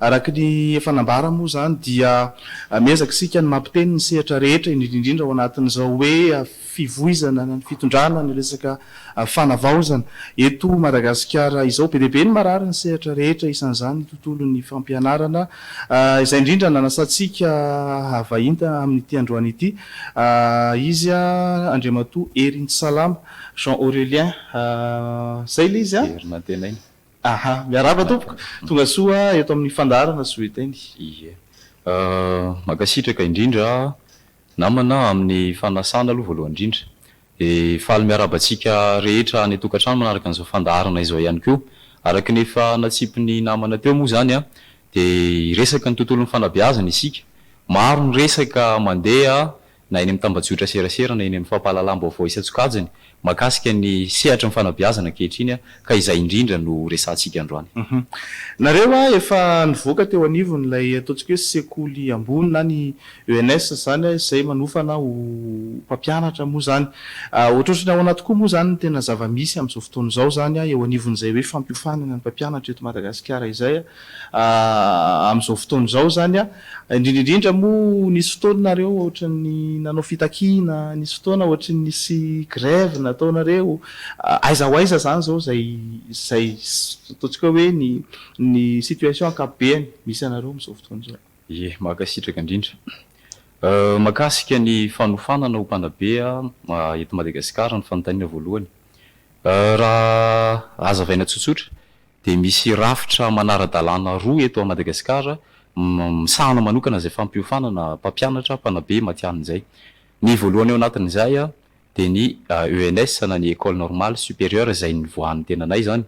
Araka ny efa nambara moa izany dia miezaka isika ny mampiteny ny sehatra rehetra indrindra indrindra ao anatin'izao hoe fivoizana ny fitondrana ny resaka fanavaozana eto Madagasikara izao. Be dia be ny marary ny sehatra rehetra isan'izany ny tontolon'ny fampianarana izay indrindra nanasantsika havahinta amin'ity androany ity izy Andriamatoa Herintsalama Jean Aurelien. Izay ilay izy an! Very nantenaina. Aha, miarahaba tompoko. Tonga soa eto amin'ny fandaharana Zoeteny. Ie. Mankasitraka indrindra namana amin'ny fanasana aloha voalohany indrindra. Dia faly miarahaba antsika rehetra any an-tokantrano manaraka an'izao fandaharana izao ihany koa. Araka ny efa natsipin'ny namana teo moa izany dia hiresaka ny tontolon'ny fanabeazana isika. Maro ny resaka mandeha na eny amin'ny tambajotra serasera na eny amin'ny fampahalalam-baovao isan-tsokajiny mahakasika ny sehatry ny fanabeazana ankehitriny ka izay indrindra no horesahantsika androany. Nareo a, efa nivoaka teo anivon' ilay ataontsika hoe sekoly ambony na ny ENS izany a, izay manofana ho mpampianatra moa izany. Ohatrohatry ny ahoana tokoa moa izany no tena zava-misy amin'izao fotoana izao izany eo anivon'izay hoe fampiofanana ny mpampianatra eto Madagasikara izay a? Amin'izao fotoana izao izany, indrindra indrindra moa nisy fotoana nareo ohatran'ny nanao fitakiana, nisy fotoana ohatry nisy grève nataonareo, aiza ho aiza izany izao izay izay ataontsika hoe ny ny situation ankapobeny misy anareo amin'izao fotoana izao? Ye, mankasitraka indrindra. Mahakasika ny fanofanana ho mpanabe eto Madagasikara ny fanontaniana voalohany. Raha hazavaina tsotsotra dia misy rafitra manara-dalàna roa eto Madagasikara misahana manokana izay fampiofanana mpampianatra, mpanabe matihanina izay. Ny voalohany ao anatin'izay dia ny ENS na ny Ecole Normale Supérieure izay nivoahan'ny tenanay izany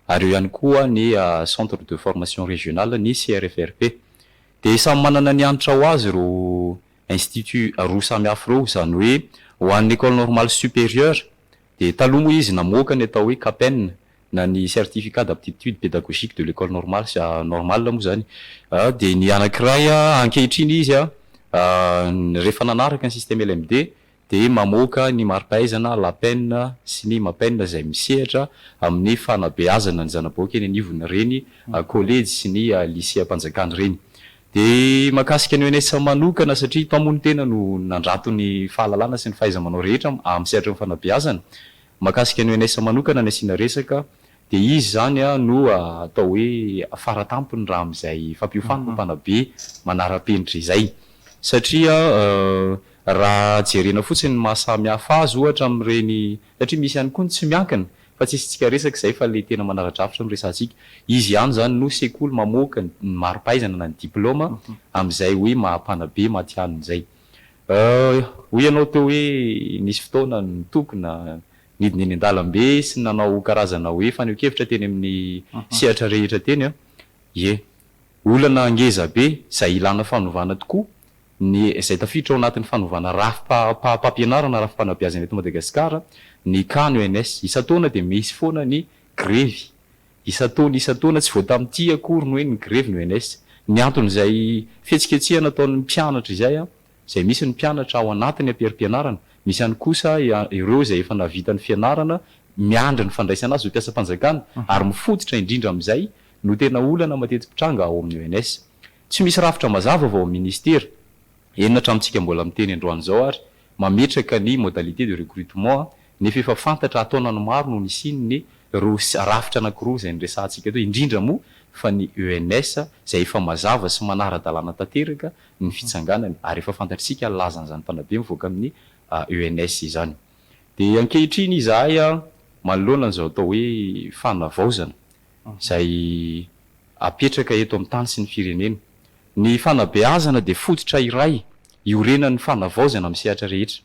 ary eo ihany koa ny Centre de Formation Régionale, ny CRFRP. Dia samy manana ny hanitra ho azy ireo Instituts roa samihafa ireo, izany hoe ho an'ny Ecole Normale Supérieure dia taloha moa izy namoaka ny atao hoe CAPEN na ny certificat d'aptitude pédagogique de l'école normale sy normale moa izany dia ny anankiray ankehitriny izy rehefa nanaraka ny système LMD dia mamoaka ny mari-pahaizana LAPEN sy ny MAPEN izay misehatra amin'ny fanabeazana ny zana-bahoaka eny anivon'ny reny kolejy sy ny liseam-panjakana ireny dia mahakasika ny ONS manokana satria mpamony tena no nandrato ny fahalalana sy ny fahaiza-manao rehetra amin'ny sehatry ny fanabeazana Mahakasika an'i Eunice manokana ny asiana resaka dia izy izany no atao hoe fara tampony raha amin'izay fampiofanana mpanabe manara-penitra izay satria raha jerena fotsiny ny mahasamy hafa azy ohatra amin'ireny satria misy ihany koa ny tsy miankina fa tsy isintsika resaka izay fa ilay tena manara-drafitra no resahantsika, izy ihany izany no sekoly mamoaka ny mari-pahaizana na ny diplaoma amin'izay hoe maha mpanabe matihanina izay. Hoy ianao teo hoe nisy fotoana nitokona, nidina eny an-dalambe sy nanao karazana hoe fanehonkevitra teny amin'ny sehatra rehetra teny an! Ie. Olana ngeza be izay ilana fanovana tokoa ny izay tafiditra ao anatin'ny fanovana rafi-pampianarana, rafi-panabeazana eto Madagasikara, ny can, ENS. Isan-taona dia misy foana ny grevy Isan-taona isan-taona, tsy vao tamin'ity akory no hoe ny grevy no ENS. Ny anton'izay fihetsiketsehana ataon'ny mpianatra izay, izay misy ny mpianatra ao anatin'ny amperi-pianarana, misy ihany kosa ireo izay efa nahavita ny fianarana, miandry ny fandraisana azy ho mpiasam-panjakana, ary mifototra indrindra amin'izay no tena olana mateti-pitranga ao amin'ny ENS. Tsy misy rafitra mazava vao amin'ny minisitera, eny na hatramintsika mbola miteny androany izao ary, mametraka ny modalités de recrutement nefa efa fantatra hataona ny maro no nisiany ny roa rafitra anankiroa izay niresahantsika teo indrindra moa fa ny ENS izay efa mazava sy manara-dalàna tanteraka ny fitsanganany ary efa fantatr'isika ny lazan'izany mpanabe mivoaka amin'ny ENS izany dia ankehitriny izahay manoloana an'izao atao hoe fanavaozana izay apetraka eto amin'ny tany sy ny firenena. Ny fanabeazana dia fototra iray iorenan'ny fanavaozana amin'ny sehatra rehetra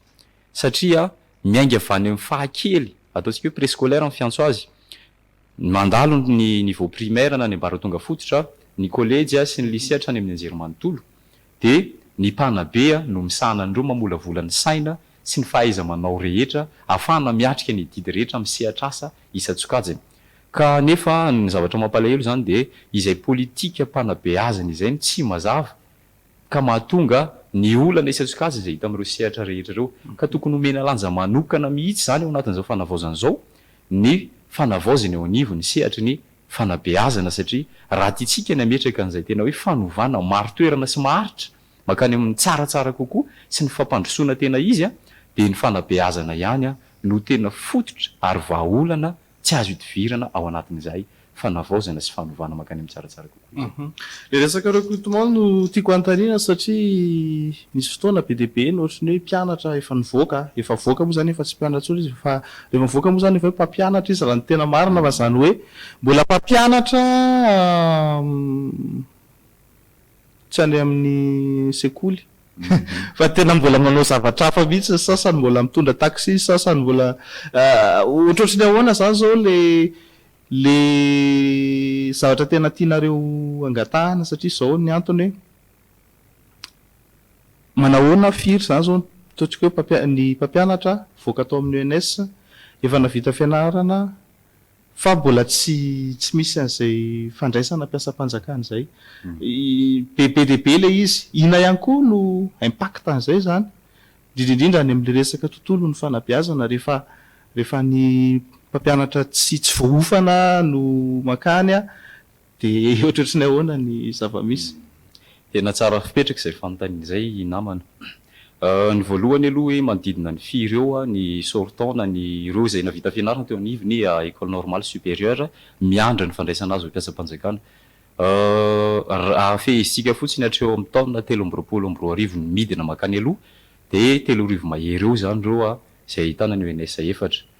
satria miainga avy any amin'ny fahakely, ataontsika hoe préscolaire ny fiantso azy, mandalo ny niveau primaire na ny ambaratonga fototra, ny kolejy sy ny lycée hatrany amin'ny anjerimanontolo, Dia ny mpanabe no misahana an'ireo mamolavola ny saina sy ny fahaiza-manao rehetra ahafahana miatrika ny adidy rehetra amin'ny sehatr'asa isan-tsokajiny. Ka nefa ny zavatra mampalahelo izany dia izay politika mpanabeazana izay no tsy mazava ka mahatonga ny olana isan-tsokajiny izay hita amin'ireo sehatra rehetra ireo. Ka tokony homena lanja manokana mihitsy izany ao anatin'izao fanavaozana izao ny fanavaozana eo anivon'ny sehatry ny fanabeazana satria raha tiantsika ny hametraka an'izay tena hoe fanovana marin-toerana sy maharitra mankany amin'ny tsaratsara kokoa sy ny fampandrosoana tena izy dia ny fanabeazana ihany no tena fototra ary vahaolana tsy azo idivirana ao anatin'izay fanavaozana sy fanovana mankany amin'ny tsaratsara kokoa izay. Ilay resakareo Koto Maho no tiako hanontaniana satria Nisy fotoana be dia be no ohatry ny hoe mpianatra efa nivoaka, efa voaka moa izany efa tsy mpianatra intsony izy fa rehefa mivoaka moa izany efa hoe mpampianatra izy raha ny tena marina fa izany hoe mbola mpampianatra tsy any amin'ny sekoly fa tena mbola manao zavatra hafa mihitsy ny sasany, mbola mitondra taxi ny sasany, mbola ohatrohatry ny ahoana izany izao ilay ilay zavatra tena tianareo angatahana satria izao ny antony hoe Manahoana firy zany zao ataontsika hoe ny mpampianatra mivoaka tao amin'ny ENS efa navita fianarana fa mbola tsy tsy misy an'izay fandraisana mpiasam-panjakana izay. Be be dia be ilay izy. Inona ihany koa no impact an'izay zany indrindra indrindra any amin'ny resaka tontolon'ny fanabeazana rehefa rehefa ny mpampianatra tsy tsy voaofana no mankany Dia ohatratry ny ahoana ny zava-misy? Tena tsara fipetraka izay fanontaniana izay i namana. Ny voalohany aloha hoe manodidina ny firy eo ny sori-taona ny ireo izay nahavita fianarana teo anivon'ny Ecole Normale Supérieure miandry ny fandraisana azy ho mpiasam-panjakana. Raha fehezintsika fotsiny hatreo amin'ny taona telo amby roapolo amby roa arivo ny midina mankany aloha dia telo arivo mahery eo izany ireo izay ahitana ny ONS efatra.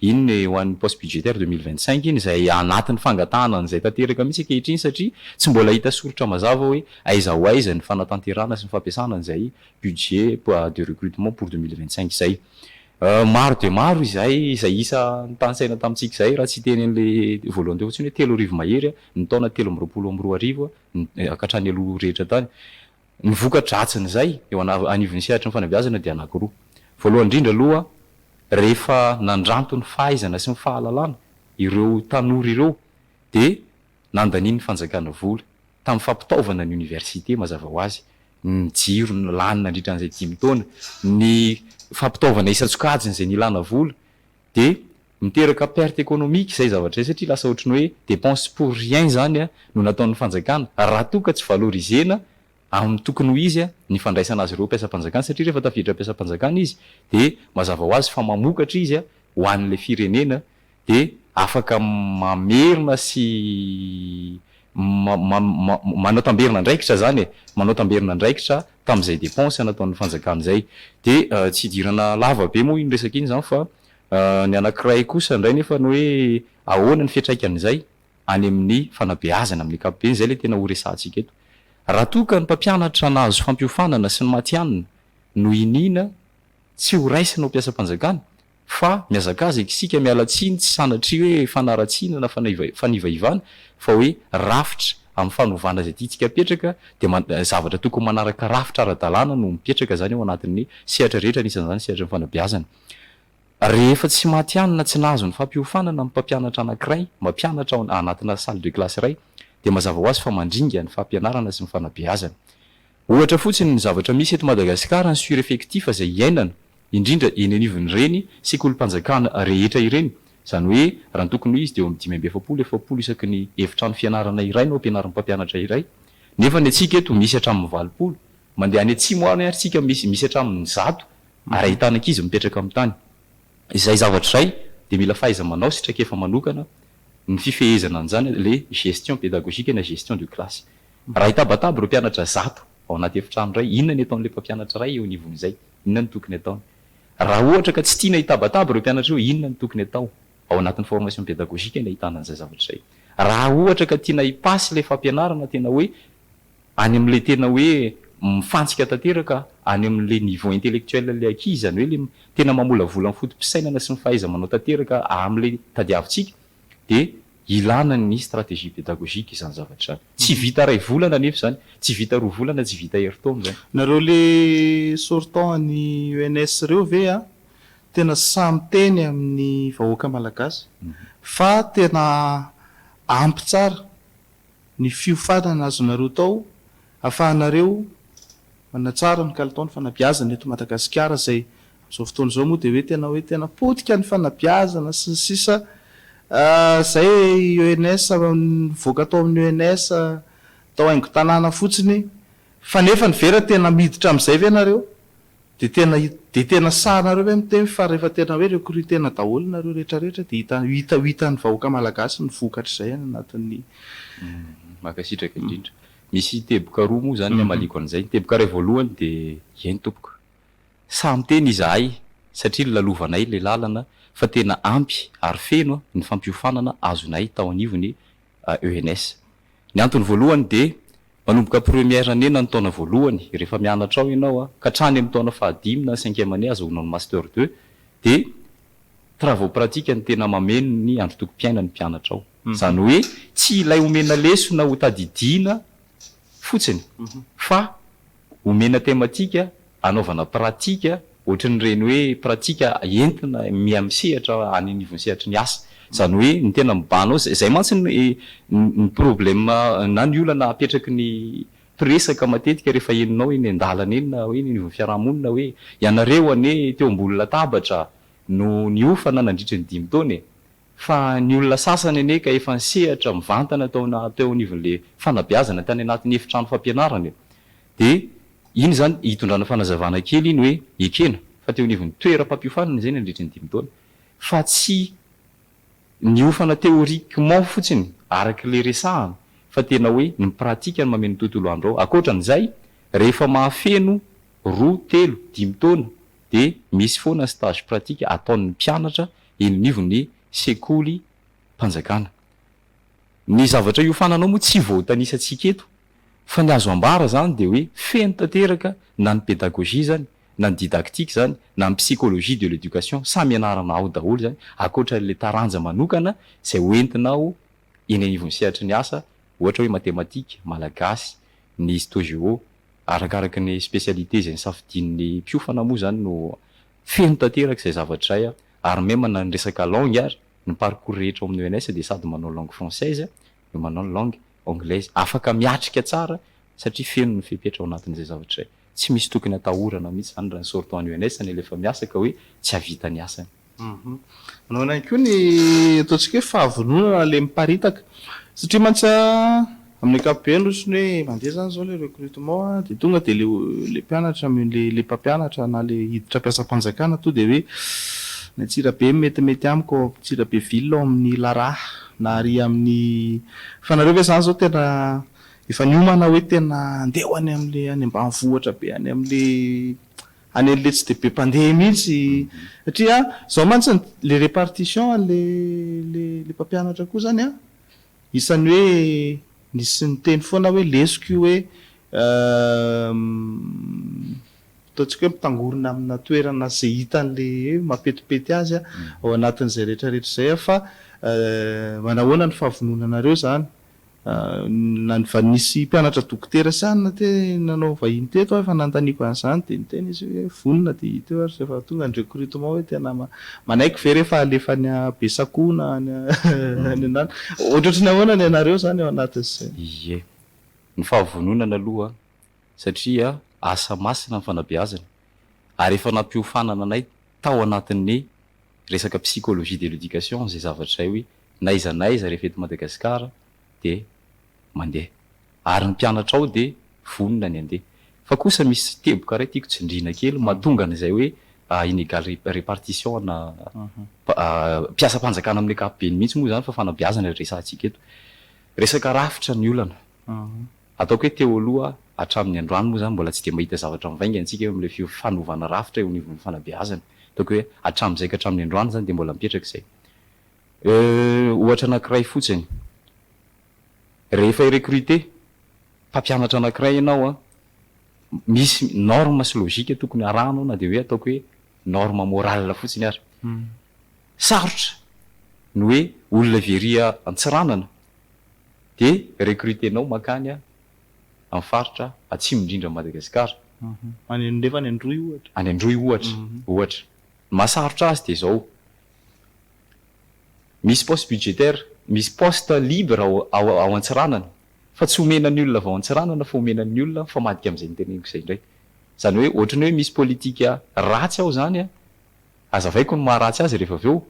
Iny ny ho an'ny poste budgétaire deux mille vingt cinq iny izay anatin'ny fangatahana an'izay tanteraka mihitsy ankehitriny satria tsy mbola hita soritra mazava hoe aiza ho aiza ny fanatanterahana sy ny fampiasana an'izay budget de recrutement pour deux mille vingt cinq izay. Maro dia maro izay izay isa notanisaina tamintsika izay raha tsy hiteny an'ilay voalohany teo fotsiny hoe telo arivo mahery ny taona telo amby roapolo amby roa arivo ny hatrany aloha rehetra tany Ny vokatra dratsin'izay eo anivon'ny sehatry ny fanabeazana dia anankiroa. Voalohany indrindra aloha, rehefa nandranto ny fahaizana sy ny fahalalana ireo tanora ireo dia nandanian'ny fanjakana vola tamin'ny fampitaovana ny oniversite, mazava ho azy, ny jiro no lany nandritra an'izay dimy taona, ny fampitaovana isan-tsokajiny izay nilana vola dia Miteraka perte économique izay zavatra izay satria lasa ohatry ny hoe dépense pour rien izany no nataon'ny fanjakana raha toa ka tsy valoriser-na amin'ny tokony ho izy ny fandraisana azy ireo mpiasam-panjakana satria rehefa tafiditra mpiasam-panjakana izy dia mazava ho azy fa mamokatra izy ho an'ilay firenena dia afaka mamerina sy manao tamberina andraikitra izany e! manao tamberina andraikitra tamin'izay dépense nataon'ny fanjakana izay dia tsy hidirana lava be moa iny resaka iny izany fa Ny anankiray kosa indray nefa ny hoe ahoana ny fiantraikan'izay any amin'ny fanabeazana amin'ny ankapobeny, izay ilay tena ho resahantsika eto. Raha toa ka ny mpampianatra nahazo fampiofanana sy ny matihanina no iniana tsy ho raisina ho mpiasam-panjakana fa mihazakazaka isika miala tsiny tsy sanatria hoe fanaratsiana na fanivaivana fa hoe rafitra amin'ny fanovana izay tiantsika apetraka dia zavatra tokony manaraka rafitra ara-dalàna no mipetraka izany ao anatin'ny sehatra rehetra anisan'izany ny sehatry ny fanabeazana. Rehefa tsy matihanina, tsy nahazo ny fampiofanana ny mpampianatra anankiray mampianatra ao anatina salle de classe iray, dia mazava ho azy fa mandringa ny fampianarana sy ny fanabeazana. Ohatra fotsiny ny zavatra misy eto Madagasikara ny sureffectif izay iainana, indrindra eny anivon'ireny sekolim-panjakana rehetra ireny, izany hoe raha ny tokony ho izy dia eo amin'ny dimy amby efapolo, efapolo isaky ny efitrano fianarana iray no ampianarin'ny mpampianatra iray, nefa ny antsika eto misy hatramin'ny valopolo. Mandeha any atsimo any ary tsika misy misy hatramin'ny zato ary ahitana ankizy mipetraka amin'ny tany. Izay zavatra izay dia mila fahaiza-manao sy traikefa manokana ny fifehezana an'izany, ilay gestion pédagogique na gestion de classe. Raha hitabataba ireo mpianatra zato ao anaty efitrano iray, inona ny ataon'ilay mpampianatra iray eo anivon'izay? Inona no tokony ataony? Raha ohatra ka tsy tiana hitabataba ireo mpianatra ireo, inona no tokony atao? Ao anatin'ny formation pédagogique no ahitana an'izay zavatra izay. Raha ohatra ka tiana hi-pass ilay fampianarana tena hoe Any amin'ilay tena hoe mifantsika tanteraka any amin'ilay niveau intellectuel ilay ankizy, izany hoe ilay tena mamolavola ny foto-pisainana sy ny fahaiza-manao tanteraka amin'ilay tadiavintsika dia ilana ny stratégie pédagogique izany zavatra izany. Tsy vita iray volana anefa izany, tsy vita roa volana, tsy vita herintaona izany. Nareo le sortant any ENS reo ve a, tena sahy miteny amin'ny vahoaka malagasy fa tena ampy tsara ny fiofanana azonareo tao afahanareo manatsara ny kalitao ny fanabiazana eto Madagasikara izay amin'izao fotoana izao moa dia hoe tena hoe tena potika ny fanabiazana sy ny sisa izay ENS nivoaka tao amin'ny ENS tao haingon-tanàna fotsiny fa nefa ny vera tena miditra amin'izay ve nareo Dia tena dia tena sahanareo ve miteny fa rehefa tena hoe recrutena daholo nareo rehetra rehetra dia hita hita ho hitan'ny vahoaka malagasy ny vokatr'izay any anatin'ny Mankasitraka indrindra. Misy teboka roa moa izany ny hamaliako an'izay. Ny teboka iray voalohany dia eny tompoko. Sahy miteny izahay satria nolalovanay ilay lalana fa tena ampy ary feno ny fampiofanana azonay tao anivon'ny ENS. Ny antony voalohany dia manomboka première année na ny taona voalohany rehefa mianatra ao ianao ka hatrany amin'ny taona fahadimy na ny cinquième année azahoanao ny master deux dia travaux pratiques no tena mameno ny androtokom-piainan'ny mpianatra ao. Izany hoe tsy ilay omena lesona ho tadidiana fotsiny fa omena tematika anaovana pratika ohatran'ireny hoe pratika entina miha misehatra any anivon'ny sehatry ny asa. Izany hoe ny tena mibahana ao, izay mantsy ny ny problema na ny olana apetraky ny mpiresaka matetika rehefa henonao eny an-dalana eny na hoe eny anivon'ny fiarahamonina hoe ianareo anie teo ambony latabatra no niofana nandritry ny dimy taona e! fa ny olona sasany anie ka efa nisehatra mivantana tao teo anivon'ilay fanabeazana tany anatin'ny efitrano fampianarana e! Dia iny izany hitondrana fanazavana kely iny hoe ekena fa teo anivon'ny toeram-pampiofanana izay nandritra ny dimy taona fa tsy niofana théoriquement fotsiny araka ilay resahana fa tena hoe ny pratique no mameno ny tontolo andro ao. Ankoatran'izay, rehefa mahafeno roa, telo, dimy taona dia misy foana ny stage pratique ataon'ny mpianatra eny anivon'ny sekolim-panjakana. Ny zavatra iofanana ao moa tsy voatanisantsika eto Fa ny azo ambara izany dia hoe feno tanteraka na ny pédagogie izany, na ny didactique izany, na ny psychologie de l'éducation, samy ianarana ao daholo izany, ankoatra ilay taranja manokana izay ho entinao eny anivon'ny sehatry ny asa, ohatra hoe matematika, malagasy, ny histo-géo, arakaraky ny spécialité izay nosafidian'ny mpiofana moa izany no feno tanteraka izay zavatra izay ary même na ny resaka langue ary, ny parcours rehetra ao amin'ny ENS dia sady manao langue française, no manao ny langue anglaise. Afaka miatrika tsara satria feno ny fepetra ao anatin'izay zavatra izay. Tsy misy tokony atahorana mihitsy izany raha ny sortant any ONS anie ilay efa miasa ka hoe tsy hahavita ny asany. Manao ihany koa ny ataontsika hoe fahavononana ilay miparitaka satria mantsy amin'ny ankapobeny ohatrany hoe mandeha izany izao ilay recrutement dia tonga dia ilay mpianatra ilay mpampianatra na ilay hiditra mpiasam-panjakana tonga dia hoe ny Antsirabe no metimety amiko ao Antsirabe ville ao amin'ny Laraha. Na ary amin'ny fa nareo ve zany zao tena efa niomana hoe tena andeha ho any amle any ambanivohitra be any amle any anle tsy de be mpandeha mihitsy satria zao mantsy le repartition anle le le mpampianatra koa zany a isan'ny hoe nisy niteny foana hoe lesoka io hoe Ataontsika hoe mitangorona amina toerana izay hitany le hoe mapetipety azy a, ao anatin'izay rehetra rehetra izay a, fa manahoana ny fahavononanareo izany? na ny va nisy mpianatra dokotera sy anona te nanao vahiny teto ary efa nanontaniako an'izany dia niteny izy hoe vonona dia hita eo ary rehefa tonga ny recrutement hoe tena ma, manaiky ve rehefa alefa any a Besakoho na any a any anana, ohatrohatry ny ahoana ny anareo izany ao anatin'izay? Ie. Ny fahavononana aloha satria asa masina ny fanabeazana ary efa nampiofanana anay tao anatin'ny resaka psychologie de l'éducation izay zavatra izay hoe n'aiza n'aiza rehefa eto Madagasikara dia mandeha ary ny mpianatra ao dia vonona ny handeha fa kosa misy teboka iray tiako tsindriana kely mahatonga an'izay hoe inégale répartition ana mpiasam-panjakana amin'ny ankapobeny mihitsy moa izany fa fanabeazana ilay resahantsika eto resaka rafitra ny olana Ataoko hoe teo aloha, hatramin'ny androany moa izany mbola tsy dia mba hita zavatra mivainga antsika eo amin'ilay fio fanovana rafitra eo anivon'ny fanabeazana. Ataoko hoe hatramin'izay ka hatramin'ny androany izany dia mbola mipetraka izay. Euh, ohatra anankiray fotsiny. Rehefa hi-recruter mpampianatra anankiray ianao an, misy norme sy logique tokony harahanao na dia hoe ataoko hoe norme morale fotsiny ary. Sarotra ny hoe olona very Antsiranana dia recruter-nao mankany amin'ny faritra atsimo indrindran'i Madagasikara. Any nefa any Androy ohatra. Any Androy ohatra, ohatra. Ny mahasarotra azy dia izao, misy poste budgétaire, misy poste libre ao Antsiranana fa tsy omena ny olona avy ao Antsiranana fa omena ny olona mifamadika amin'izay noteneniko izay indray. Izany hoe ohatran'ny hoe misy politika ratsy ao izany. Azavaiko ny maha ratsy azy rehefa avy eo,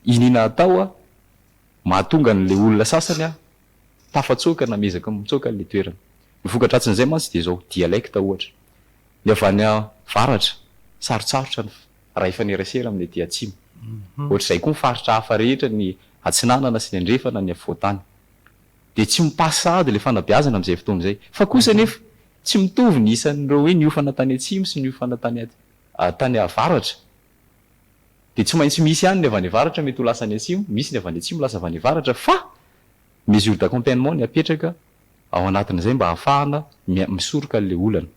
iniana atao a, mahatonga an'ilay olona sasany a, tafatsoaka na miezaka mitsoaka an'ilay toerana. Ny voka-dratsin'izay mantsy dia izao, dialecte ohatra, ny avy any avaratra, sarotsarotra ny ray ifanerasera amin'ny aty atsimo. Ohatr'izay koa ny faritra hafa rehetra, ny atsinanana sy ny andrefana, ny afovoan-tany. Dia tsy mi-passe sahady ilay fanabeazana amin'izay fotoana izay. Fa kosa anefa, tsy mitovy ny isan'ireo hoe niofana tany atsimo sy niofana tany aty. tany avaratra dia tsy maintsy misy ihany ny avy any avaratra mety ho lasa any atsimo, misy ny avy any atsimo lasa avy any avaratra fa mesure d'accompagnement ny apetraka ao anatin'izay mba hahafahana misoroka an'ilay olana.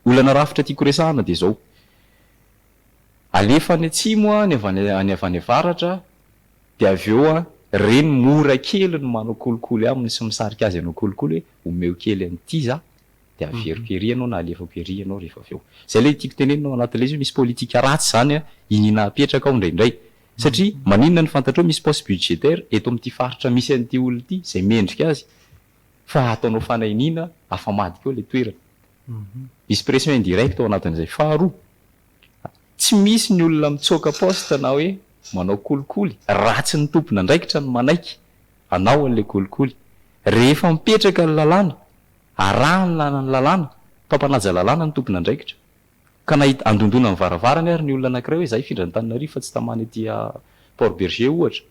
Olana rafitra tiako resahana dia izao, alefa any atsimo ny avy any any avy any avaratra dia avy eo re ny mora kely ny manao kolikoly aminy sy misarika azy hanao kolikoly hoe omeo kely an'ity za de averiko ery ianao na alefako ery ianao rehefa avy eo. Zay ilay tiako tenenina ao anatin'ilay izy hoe misy politika ratsy izany an, iniana apetraka ao indraindray. Satria maninona no fantatrao misy poste budgétaire eto amin'ity faritra misy an'ity olona ity izay mendrika azy fa ataonao fanahiniana afamadika eo ilay toerana. Misy pression indirecte ao anatin'izay. Faharoa, tsy misy ny olona mitsoaka poste na hoe manao kolikoly raha tsy ny tompon'andraikitra no manaiky hanao an'ilay kolikoly. Rehefa mipetraka ny lalàna Arahina ny lalàna, mpampanaja lalàna ny tompon'andraikitra. Ka nahita, andondona ny varavarany ary ny olona anankiray hoe izaho hifindra an'Antananarivo fa tsy tamana ety Port Bergé ohatra.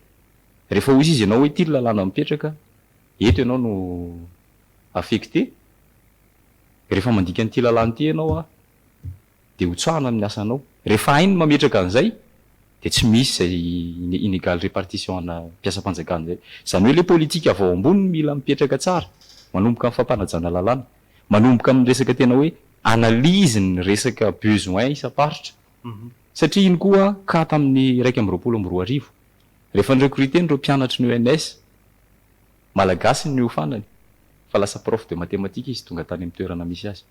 Rehefa hoy izy ianao hoe ity ny lalàna mipetraka, eto ianao no affecté, rehefa mandika an'ity lalàna ity ianao aho, dia ho tsahana amin'ny asanao. Rehefa hainy ny mametraka an'izay dia tsy misy izay ine inégale répartition ana mpiasam-panjakana izay. Izany hoe le politika avy ao ambony no mila mipetraka tsara, manomboka amin'ny fampanajana lalàna, manomboka amin'ny resaka tena hoe analyse ny resaka besoin isam-paritra. Satria iny koa cas tamin'ny iraika amby roapolo amby roa arivo, rehefa ni-recruter an'ireo mpianatry ny ENS, Malagasy ny niofanany fa lasa prof de mathématiques izy tonga tany amin'ny toerana misy azy.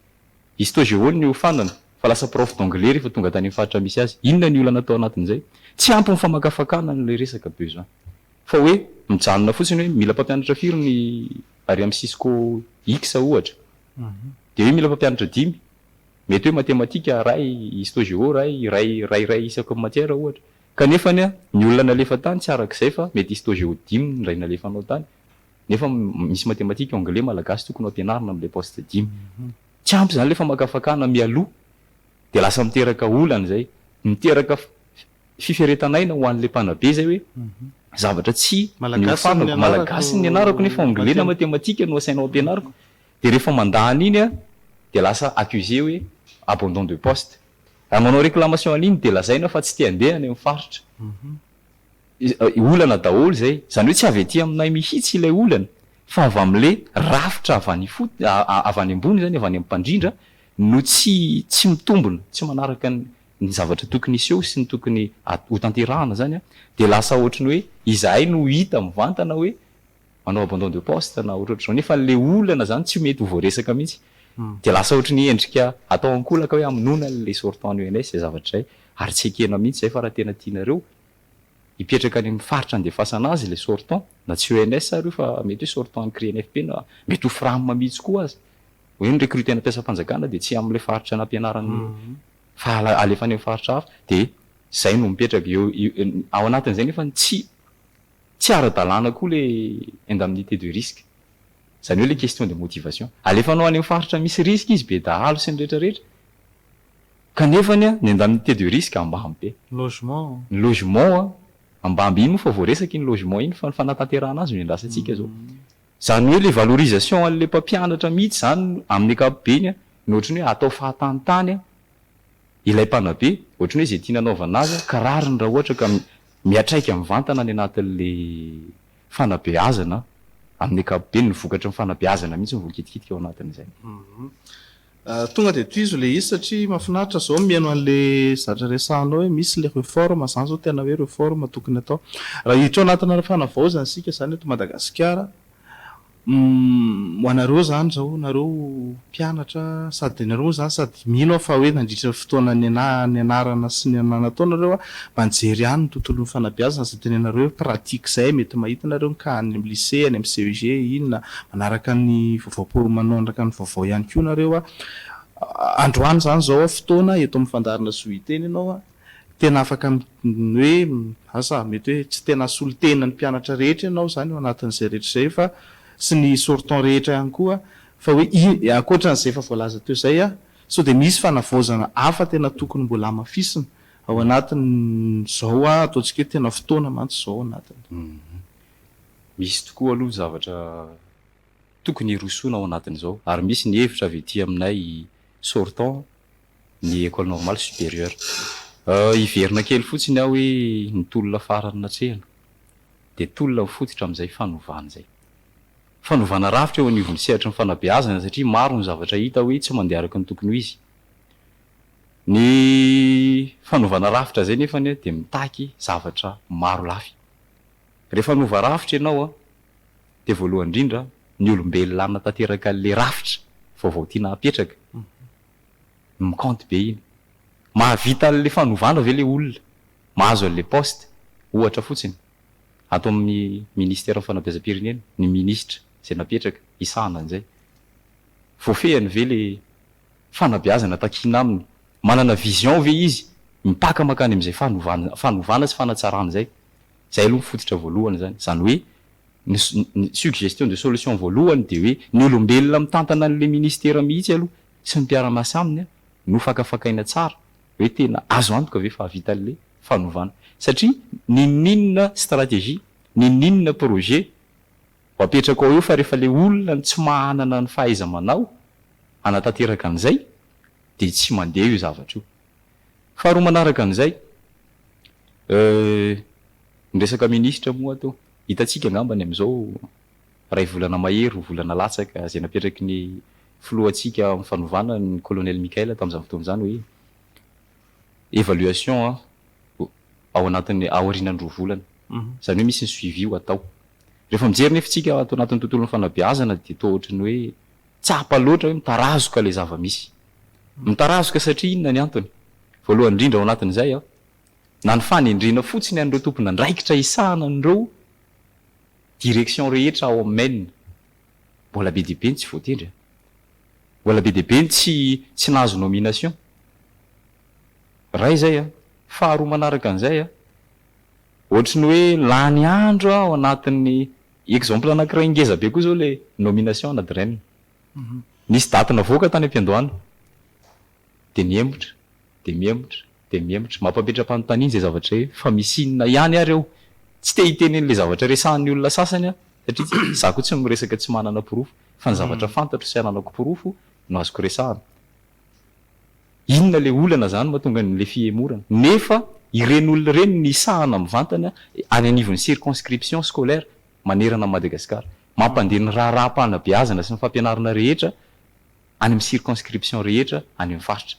Hisy tao Géo ny hofandana fa lasa prof d'anglais rehefa tonga tany amin'ny faritra misy azy. Inona ny olana tao anatin'izay? Tsy ampy ny famakafakana an'ilay resaka besoin fa hoe mijanona fotsiny hoe mila mpampianatra firy ny ary amin'ny cisco X ohatra dia hoe mila mpampianatra dimy. Mety hoe matematika iray, histo géo iray, iray iray iray isaky ny matière ohatra. Kanefany ny olona nalefa tany tsy arak'izay fa mety histo géo dimy ny iray nalefanao tany. Nefa misy matematika anglais malagasy tokony ho ampianarina amin'ilay poste dimy. Tsy ampy izany ilay famakafakana mialoha dia lasa miteraka olana izay. Miteraka fiferetan'aina ho an'ilay mpanabe izay hoe zavatra tsy nihofanako, malagasy no nianarako nefa anglais na matematika no asainao ampianariko. Dia rehefa mandà an'iny dia lasa accusé hoe abandon de poste. Raha manao réclamation an'iny dia lazaina fa tsy te handeha any amin'ny faritra. olana daholo izay, izany hoe tsy avy aty aminay mihitsy ilay olana fa avy amin'ilay rafitra avy any ifotony, avy any ambony izany, avy any amin'ny mpandrindra no tsy tsy mitombina, tsy manaraka ny ny zavatra tokony hiseho sy ny tokony ho tanterahana izany dia lasa ohatry ny hoe izahay no hita mivantana hoe manao abandon de poste na ohatrohatr'izao nefa le olana izany tsy mety ho voaresaka mihitsy dia lasa ohatry ny endrika atao ankolaka hoe hamonoana ilay sortant ny ONS izay zavatra izay ary tsy ekena mihitsy izay fa raha tena tianareo hipetraka any amin'ny faritra andefasana azy ilay sortant na tsy ONS ary io fa mety hoe sortant an'ny CRENFP na mety ho fram mihitsy koa aza hoe ny recrutena mpiasam-panjakana dia tsy amin'ilay faritra nampianarany fa alefany amin'ny faritra hafa dia izay no mipetraka eo ao anatin'izay nefa tsy Tsy ara-dalàna koa ilay indemnité de risque. Izany hoe ilay question de motivation. Alefanao any amin'ny faritra misy risque izy, be dahalo sy ny rehetra rehetra, kanefa ny indemnité de risque ambany be. Ny logement. Ny logement, ambany be. Iny moa efa voaresaka iny logement iny fa ny fanatanterahana azy no iandrasantsika izao. Izany hoe ilay valorisation an'ilay mpampianatra mihitsy izany amin'ny ankapobeny no ohatran'ny hoe atao fahatany tany ilay mpanabe, ohatran'ny hoe izay tiana anaovana azy an, ka rariny raha ohatra ka miatraika mivantana any anatin'ilay fanabeazana an, amin'ny ankapobeny, ny vokatry ny fanabeazana mihitsy no voakitikitika ao anatin'izay. Hum. Tonga dia tohizo ilay izy satria mahafinaritra izao mihaino an'ilay zatra resahanao hoe misy ilay reforme, izany izao tena hoe reforme tokony atao. Raha hiditra ao anatina fanavaozana isika izany eto Madagasikara, Umm ho anareo zany zao nareo mpianatra sady nareo moa zany sady mino aho fa hoe nandritra ny fotoana nianarana sy nanatao nareo a mba nijery ihany ny tontolon'ny fanabeazana izay tenenareo hoe pratique zay mety mahita nareo ny cas any amin'ny lycée any amin'ny CEG inona manaraka ny vaovao manaraka ny vaovao ihany koa nareo a androany zany zao fotoana eto amin'ny fandaharana zohiteny ianao a. Tena afaka hoe asa mety hoe tsy tena asolo tena ny mpianatra rehetra ianao izany ao anatin'izay rehetra izay fa sy ny sortant rehetra ihany koa fa hoe ankoatran'izay efa voalaza teo izay sao dia misy fanavaozana hafa tena tokony mbola hamafisina ao anatin'izao ataontsika hoe tena fotoana mantsy izao ao anatin'ny. Misy tokoa aloha ny zavatra tokony hirosoana ao anatin'izao ary misy ny hevitra avy ety aminay sortant ny Ecole Normale Supérieure. Hiverina kely fotsiny aho hoe ny tolona farany natrehina dia tolona mifototra amin'izay fanovana izay. Fanovana rafitra eo anivon'ny sehatry ny fanabeazana satria maro ny zavatra hita hoe tsy mandeha araka ny tokony ho izy. Ny fanovana rafitra izay nefa anie dia mitaky zavatra maro lafy. Rehefa hanova rafitra ianao dia voalohany indrindra ny olombelona hanatanterakan'ilay rafitra vaovao tiana hapetraka. Mi compte be iny. Mahavita an'le fanovana ve le olona mahazo an'le poste? Ohatra fotsiny. Ato amin'ny Ministeran'ny Fanabeazam-pirenena, ny Minisitra izay napetraka hisahana an'izay. Voafehiny ve le fanabeazana takiana aminy? Manana vision ve izy mipaka mankany amin'izay fanovana sy fanatsarana izay? Izay aloha ny fototra voalohany izany. Izany hoe ny ny suggestion de solution voalohany dia hoe ny olombelona mitantana an'ilay ministera mihitsy aloha sy ny mpiara-miasa aminy no fakafakaina tsara hoe tena azo antoka ve fa hahavita an'ilay fanovana. Satria n'inon'inona stratégie, n'inon'inona projet ho apetrako ao eo fa rehefa ilay olona no tsy mahanana ny fahaiza-manao hanatanteraka an'izay dia tsy mandeha io zavatra io. Faharoa manaraka an'izay, eh, ny resaka minisitra moa ato, hitantsika angamba ny amin'izao iray volana mahery, roa volana latsaka, izay napetraky ny filohantsika amin'ny fanovana ny Colonel Michael tamin'izany fotoana izany hoe, évaluation an, ao anatin'ny, aorianan'ny roa volana. Izany hoe misy ny suivi ho atao. Rehefa mijery nefa isika ato anatin'ny tontolon'ny fanabeazana dia toa ohatran'ny hoe tsapa loatra hoe mitarazoka ilay zava-misy. Mitarazoka satria inona ny antony? Voalohany indrindra ao anatin'izay, na ny fanendrena fotsiny an'ireo tompon'andraikitra hisahana an'ireo directions rehetra ao amin'ny MEN, mbola be dia be ny tsy voatendry. Mbola be dia be ny tsy tsy nahazo nomination. Iray izay. Faharoa manaraka an'izay, Ohatry ny hoe lany andro ao anatin'ny exemple anankiray ngeza be koa zao le nomination ana Dren. Nisy date navoaka tany am-piandohana. De mihemotra, de mihemotra, de mihemotra. Mampametra-panontaniana zay zavatra hoe fa misy inona ihany ary ao. Tsy te hiteny an'le zavatra resahan'ny olona sasany aho satria za koa tsy miresaka tsy manana porofo fa ny zavatra fantatro sy ananako porofo no azoko resahana. Inona ilay olana izany mahatonga an'ilay fihemorana? Nefa ireny olona ireny misahana mivantana any anivon'ny circonscription scolaire manerana an'i Madagasikara. Mampandeha ny raharaham-panabeazana sy ny fampianarana rehetra any amin'ny circonscription rehetra any amin'ny faritra.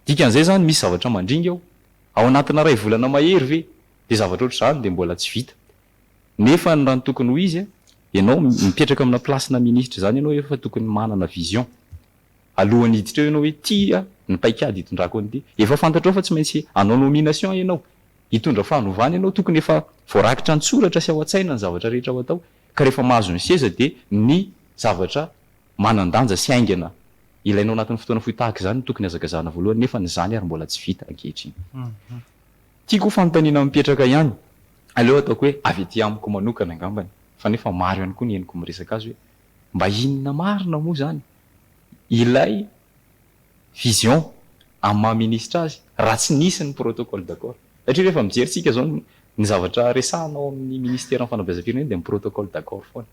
Dikan'izay izany misy zavatra mandringa ao. Ao anatina iray volana mahery ve dia zavatra ohatr'izany dia mbola tsy vita? Nefa raha ny tokony ho izy, ianao mipetraka amina place-na minisitra izany ianao efa tokony manana vision. Alohan'ny hiditra eo ianao hoe tia ny paikady hitondrako an'ity. Efa fantatrao fa tsy maintsy hanao nomination ianao. Hitondra fanovana ianao, tokony efa voarakitra an-tsoratra sy ao an-tsaina ny zavatra rehetra ho atao. Ka rehefa mahazo ny seza dia ny zavatra manan-danja sy haingana ilainao anatin'ny fotoana fohy tahaka izany no tokony hazakazahana voalohany nefa ny izany ary mbola tsy vita ankehitriny. Tiako ho fanontaniana mipetraka ihany, aleo ataoko hoe avy aty amiko manokana angambany, fa nefa maro ihany koa ny henoko miresaka azy hoe mba inona marina moa izany? ilay vision amin'ny maha ministra azy raha tsy nisy ny protocole d'accord. Satria rehefa mijery tsika izao ny zavatra resahana ao amin'ny ministeran'ny fanabeazam-pirenena dia ny protocole d'accord foana.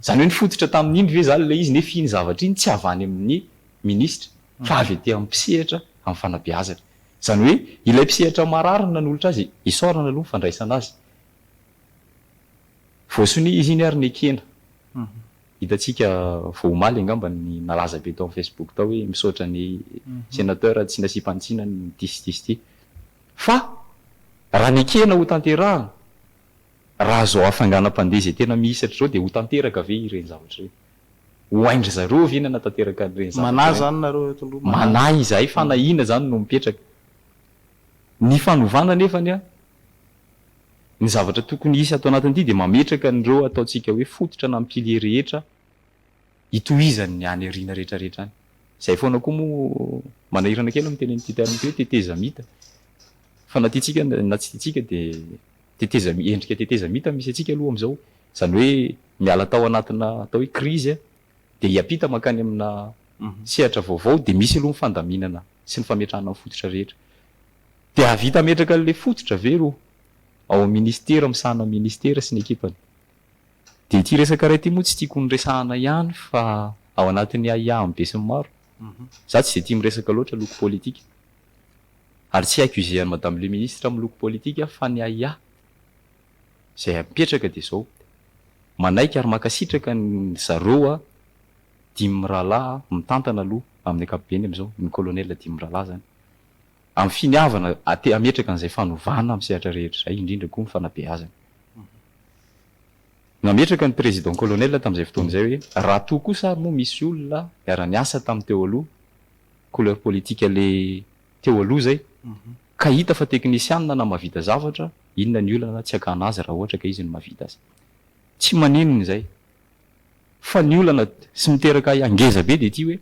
Izany hoe ny fototra tamin'iny ve izany ilay izy nefa iny zavatra iny tsy avy any amin'ny ministra fa avy aty amin'ny mpisehatra amin'ny fanabeazana. Izany hoe ilay mpisehatra marary no nanolotra azy isaorana aloha ny fandraisana azy. Voasonia izy iny ary nekena. Hitantsika vao omaly angamba ny nalaza be tao amin'ny Facebook tao hoe misaotra ny Senateur tsy nasiam-panitsiana ny disyjisy ity. Fa raha nekena ho tanterahana, raha izao hafainganam-pandeha izay tena mihisatra izao dia ho tanteraka ve ireny zavatra ireny? Ho hain-dry zareo ve ny hanatanteraka an'ireny zavatra ireny? Manahy izany nareo eto aloha, manahy. Manahy izahay fanahiana izany no mipetraka. Ny fanovana anefany an! Ny zavatra tokony hisy ato anatin'ity dia mametraka an'ireo ataontsika hoe fototra na pilier rehetra hitohizan'ny any aoriana rehetrarehetra any. Izay foana koa moa, manahirana kely ny miteny an'ity terme ity hoe tetezamita fa na tiantsika na tsy tiantsika dia tetezamita, endrika tetezamita misy antsika aloha amin'izao. Izany hoe miala tao anatina atao hoe crise dia hiampita mankany amina sehatra vaovao dia misy aloha ny fandaminana sy ny fametrahana ny fototra rehetra. Dia hahavita hametraka an'ilay fototra ve ireo ao amin'ny ministera misahana ny ministera sy ny ekipany? Dia ity resaka iray ity moa tsy tiako noresahana ihany fa ao anatin'ny ahiahiny besinimaro. Izaho tsy dia tia miresaka loatra loko politika ary tsy haiko izay an'i Madame le Ministre amin'ny loko politika fa ny ahiahy. izay apetraka dia izao, manaiky ary mankasitraka an dry zareo a dimy mirahalahy a, mitantana aloha amin'ny ankapobeny amin'izao, ny colonel dimy mirahalahy izany, amin'ny finiavana ate hametraka an'izay fanovana amin'ny sehatra rehetra izay, indrindra koa ny fanabeazana. Nametraka ny président colonel tamin'izay fotoana izay hoe, raha toa kosa ary moa misy olona niara-niasa tamin'ny teo aloha, couleur politique le teo aloha izay, Ka hita fa teknisianina na mahavita zavatra, inona ny olana tsy hakana azy raha ohatra ka izy no mahavita azy. Tsy maninona izay. Fa ny olana sy miteraka ahy hangeza be dia ity hoe,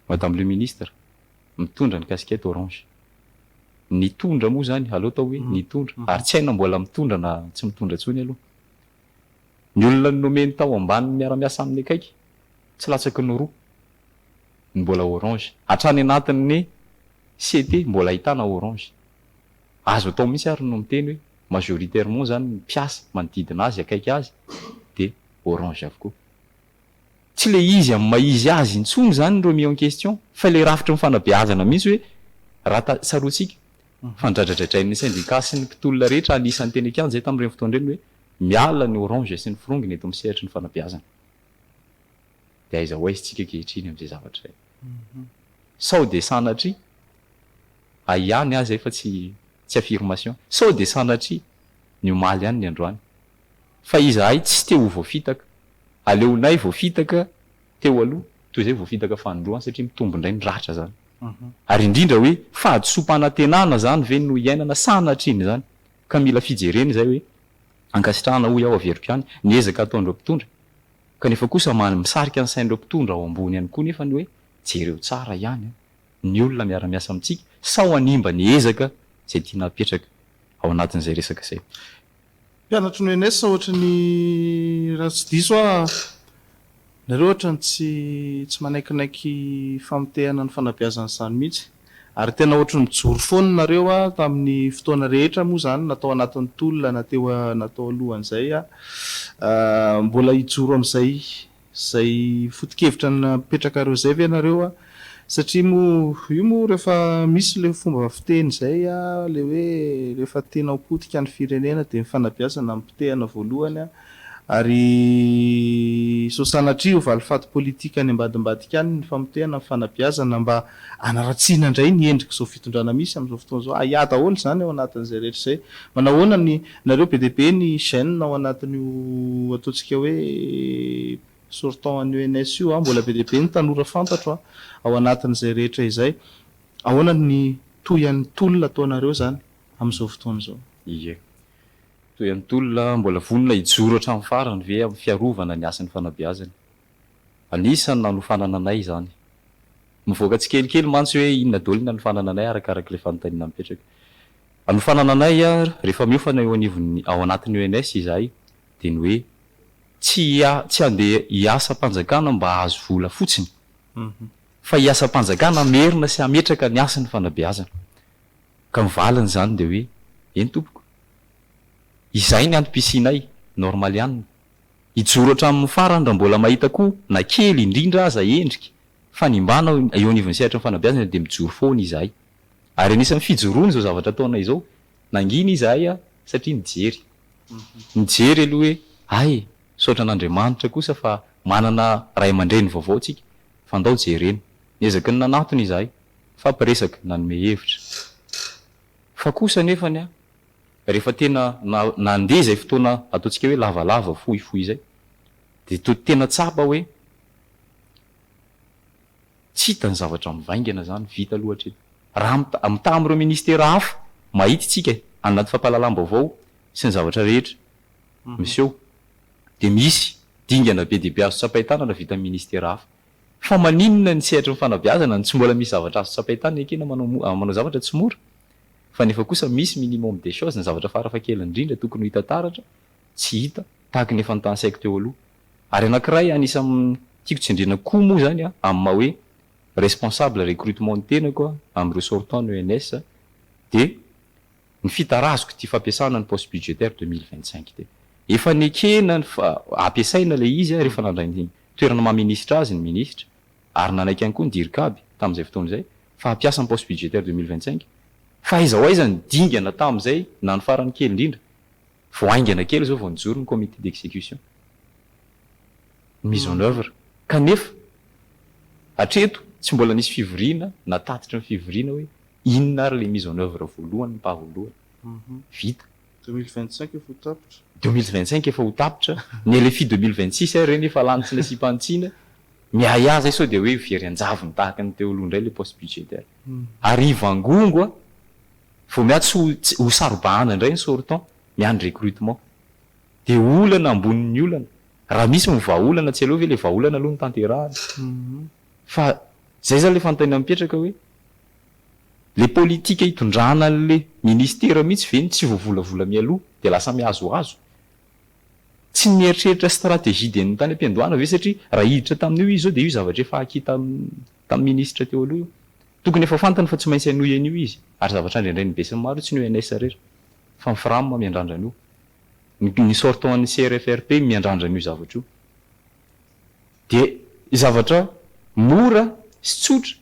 Madame le Ministre, mitondra ny casquette orange. Nitondra moa izany, aleo atao hoe nitondra, ary tsy hay na mbola mitondra na tsy mitondra intsony aloha. Ny olona nomeny tao ambanin'ny miara-miasa aminy akaiky. Tsy latsaky ny roa ny mbola orange. Hatrany anatin'ny CT mbola ahitana orange. Azo atao mihitsy ary no miteny hoe majoritairement izany ny mpiasa manodidina azy, akaiky azy dia orange avokoa. Tsy ilay izy amin'ny maha izy azy intsony izany ny remis en question fa ilay rafitry ny fanabeazana mihitsy hoe raha ta, tsaroantsika fa nodradradradrain'ny syndicat sy ny mpitolona rehetra anisan'ny teny an-kianja tamin'ireny fotoana ireny hoe miala ny orange sy ny firongony eto amin'ny sehatry ny fanabeazana. Dia aiza ho aiza isika ankehitriny amin'izay zavatra izay? Sao dia sanatria, hay ihany aho izay fa tsy tsy affirmation, sao dia sanatria ny omaly ihany ny androany? Fa izahay tsy te ho voafitaka, aleonay voafitaka teo aloha toy izay voafitaka fanindroany satria mitombo indray ny ratra izany. Ary indrindra hoe fahadisoam-panantenana izany ve no iainana sanatrian'izany? Ka mila fijerena izay hoe ankasitrahana hoy aho averiko ihany ny ezaka ataon'ireo mpitondra kanefa kosa misarika ny sain'ireo mpitondra ao ambony ihany koa nefa ny hoe jereo tsara ihany ny olona miara-miasa amintsika sao hanimba ny ezaka izay tiana hapetraka ao anatin'izay resaka izay. Mpianatry ny ENS ohatry ny raha tsy diso aho. Nareo ohatrany tsy tsy manaikinaiky famotehana ny fanabeazana izany mihitsy ary tena ohatry ny mijoro foana nareo a tamin'ny fotoana rehetra moa izany na tao anatin'ny tolona na teo na tao alohan'izay a mbola hijoro amin'izay izay fotokevitra napetrakareo izay ve nareo a satria moa io moa rehefa misy ilay fomba fiteny izay a ilay hoe rehefa tianao potika ny firenena dia ny fanabeazana no potehana voalohany a Ary sao sanatria ho valifaty politika any ambadimbadika any ny famotehana ny fanabeazana mba hanaratsiana indray ny endrik'izao fitondrana misy amin'izao fotoana izao. Ahiahy daholo izany ao anatin'izay rehetra izay. Manahoana ny, nareo be dia be ny jeunes ao anatin'io ataontsika hoe sortant an'io ENS io an, mbola be dia be ny tanora fantatro an, ao anatin'izay rehetra izay. Ahoana ny tohin'ny tolona ataonareo izany amin'izao fotoana izao? Ie. Toy an'i Tolona, mbola vonona hijoro hatramin'ny farany ve amin'ny fiarovana ny hasin'ny fanabeazana? Anisan'ny nanofanana anay izany. Mivoaka tsikelikely mantsy hoe inona daholo ny hanofanana anay arakaraka ilay fanontaniana mipetraka. Hanofanana anay rehefa miofana eo anivon'ny ao anatin'ny ENS izahay dia ny hoe tsy tsy handeha hiasam-panjakana mba hahazo vola fotsiny fa hiasam-panjakana hamerina sy hametraka ny hasin'ny fanabeazana. Ka ny valiny izany dia hoe, eny tompoko, izay ny antom-pisianay, normal ihany ny. Hijoro hatramin'ny farany raha mbola mahita koa na kely indrindra aza endrika fanimbana eo anivon'ny sehatry ny fanabeazana dia mijoro foana izahay. Ary anisan'ny fijoroany izao zavatra ataonay izao, nangina izahay an, satria nijery. Nijery aloha hoe, hay, misaotra an'Andriamanitra kosa fa manana ray aman-dreny vaovao tsika, fa ndao jerena. Niezaky ny nanatona izahay. Mifampiresaka, nanome hevitra. Fa kosa anefany an, rehefa tena nandeha izay fotoana ataontsika hoe lavalava, fohifohy izay, dia toa tena tsapa hoe tsy hita ny zavatra mivaingana izany, vita aloha hatreto. Raha mitaha amin'ireo ministera hafa, mahita isika any anaty fampahalalam-baovao sy ny zavatra rehetra miseho, dia misy dingana be dia be azo tsapain-tanana vita amin'ny ministera hafa. Fa maninona ny sehatry ny fanabeazana no tsy mbola misy zavatra azo tsapain tany ekena manao manao zavatra tsy mora fa nefa kosa misy minimum des choses ny zavatra fara fa kely indrindra tokony ho hita taratra tsy hita tahaka ny efa notansaiko teo aloha ary anakiray anisan tiako tsindriana koa moa zany an amin'ny maha hoe responsable recrutement ny tenako an amin'ireo sortant ny ENS dia Ny fitarazoko ity fampiasana ny poste budgétaire deux mille vingt cinq ity. Efa nekena ny fa hampiasaina ilay izy an, rehefa nandray ny toerana maha minisitra azy ny minisitra, ary nanaiky ihany koa ny Dircab tamin'izay fotoana izay, fa hampiasa ny poste budgétaire deux mille vingt cinq. Fa aiza ho aiza ny dingana tamin'izay na ny farany kely indrindra? Vao haingana kely izao vao nijoro ny comité d'exécution, ny mise en œuvre. Kanefa hatreto tsy mbola nisy fivoriana na tatitry ny fivoriana hoe Inona ary ilay mise en oeuvre voalohany mpaholoana? Vita. Deux mille vingt cinq efa ho tapitra. Deux mille vingt cinq efa ho tapitra. Ny LFI deux mille vingt six ary ireny efa lany tsy nasiam-panitsiana. Miahiahy izay sao dia hoe very an-javony tahaka ny teo aloha indray ilay poste budgétaire. Ary hivangongo a! Vao miahy tsy ho ho saro-bahana indray ny sortant. Miahy ny recrutement. Dia olana ambonin'ny olana. Raha misy ny vahaolana tsy aleo ve ilay vahaolana aloha no tanterahana. Fa zay zany le fanontaniana mipetraka hoe, le politika itondrana anle ministera mihitsy ve no tsy voavolavola mialoha dia lasa mihazohazo? Tsy mieritreritra stratégie de tany am-piandohana ve satria raha hiditra tamin'io izy zao dia io zavatra efa acquis tamin'ny ministra teo aloha io. Tokony efa fantany fa tsy maintsy hanohy an'io izy ary zavatra andrendrain'ny besinimaro io tsy ny ONS rera fa ny Fram miandrandra an'io. Ny sortant an'ny CRFRP miandrandra an'io zavatra io. Dia zavatra mora sy tsotra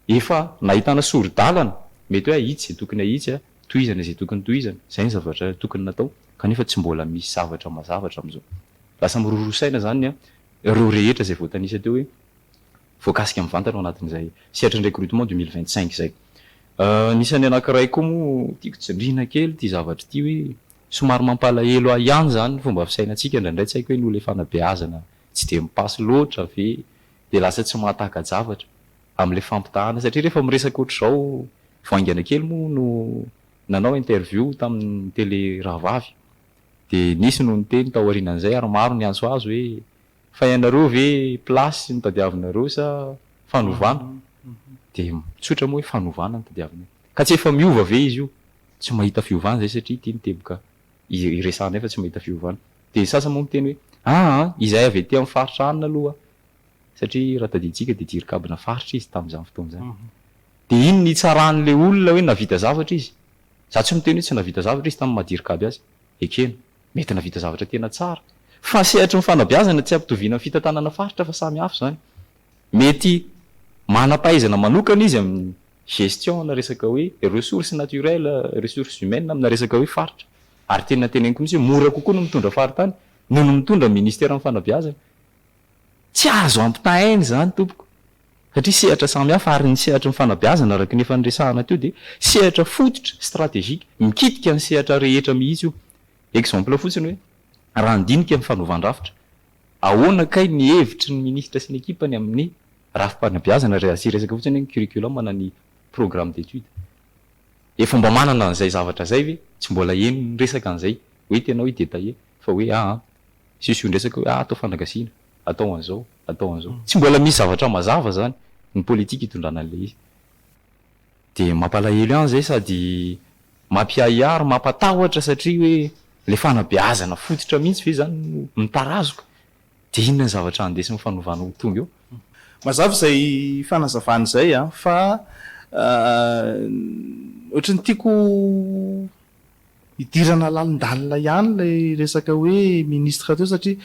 efa nahitana sori-dalana, mety hoe ahitsy izay tokony ahitsy, tohizana izay tokony tohizana, izay ny zavatra tokony natao kanefa tsy mbola misy zavatra mazava hatramin'izao. Lasa miroro saina izany ireo rehetra izay voatanisa teo hoe voakasika mivantana ao anatin'izay sehatry ny recrutement deux mille vingt cinq izay. Anisan'ny anankiray koa moa tiako tsindriana kely ity zavatra ity hoe Somary mampalahelo ahy ihany izany ny fomba fisainantsika indraindray tsy haiko hoe noho ilay fanabeazana tsy dia mipaso loatra ve dia lasa tsy mahataka-javatra amin'ilay fampitahana satria rehefa miresaka ohatr'izao vao haingana kely moa no nanao interview tamin'ny tele rahavavy dia nisy no niteny tao aorianan'izay ary maro ny antso azo hoe fa ianareo ve place no tadiavinareo sa fanovana dia tsotra moa hoe fanovana no tadiavinay ka tsy efa miova ve izy io tsy mahita fiovana izay satria ity miteboka iresahanay fa tsy mahita fiovana. Dia ny sasany moa miteny hoe, aa, izahay avy aty amin'ny faritra anona aloha, satria raha tadidintsika dia jirikabona faritra izy tamin'izany fotoana izany. Dia iny no itsaran'ilay olona hoe nahavita zavatra izy. Izaho tsy miteny hoe tsy nahavita zavatra izy tamin'ny maha-jirikaby azy. Ekena, mety nahavita zavatra tena tsara. Fa ny sehatry ny fanabeazana tsy ampitoviana amin'ny fitantanana faritra fa samy hafa izany. Mety manam-pahaizana manokana izy amin'ny gestion amina resaka hoe ressources naturelles, ressources humaines amina resaka hoe faritra ary tena teneniko mihitsy hoe mora kokoa ny mitondra faritany noho ny mitondra ministeran'ny fanabeazana. Tsy azo ampitahaina izany tompoko satria sehatra samihafa ary ny sehatry ny fanabeazana araka ny efa niresahana teo dia sehatra fototra, stratégique, mikitika ny sehatra rehetra mihitsy io. Exemple fotsiny hoe raha ny dinika ny fanaovan-drafitra. Ahoana kay ny hevitry ny ministra sy ny ekipany amin'ny rafi-panabeazana raha asia resaka fotsiny hoe ny curriculum na ny programme d'études? Efa mba manana an'izay zavatra izay ve? Tsy mbola heno ny resaka an'izay hoe tena hoe détaillé fa hoe aa siosiondresaka hoe atao fanagasiana, atao an'izao, atao an'izao. Tsy mbola misy zavatra mazava izany ny politique itondrana an'ilay izy. Dia mampalahelo ihany izay sady mampiahiahy ary mampatahotra satria hoe ilay fanabeazana fototra mihitsy ve izany no mitarazoka? Dia inona ny zavatra andesin'ny fanovana ho tonga eo? Mazava izay fanazavana izay an! Fa ohatry ny tiako hidirana lalindalina ihany ilay resaka hoe ministre teo satria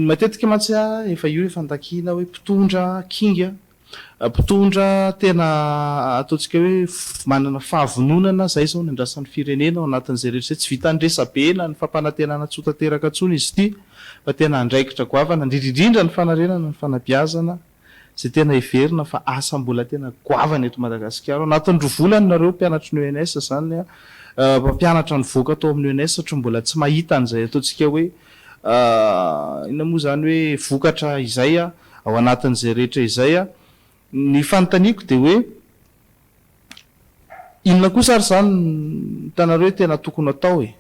matetika mantsy an efa io efa andakiana hoe mpitondra kinga Mpitondra tena ataontsika hoe manana fahavononana izay izao ny andrasan'ny firenena ao anatin'izay rehetra izay. Tsy vitan'ny resabe na ny fampanantenana tsy ho tanteraka intsony izy ity fa tena andraikitra goavana indrindra indrindra ny fanarenana ny fanabeazana izay tena heverina fa asa mbola tena goavana eto Madagasikara. Ao anatin'ny roa volana nareo mpianatry ny ENS izany mpampianatra nivoaka tao amin'ny ENS satria mbola tsy mahita an'izay ataontsika hoe inona moa izany hoe vokatra izay. ao anatin'izay rehetra izay aho. Ny fanontaniako dia hoe, inona kosa ary izany no hitanareo hoe tena tokony hatao e?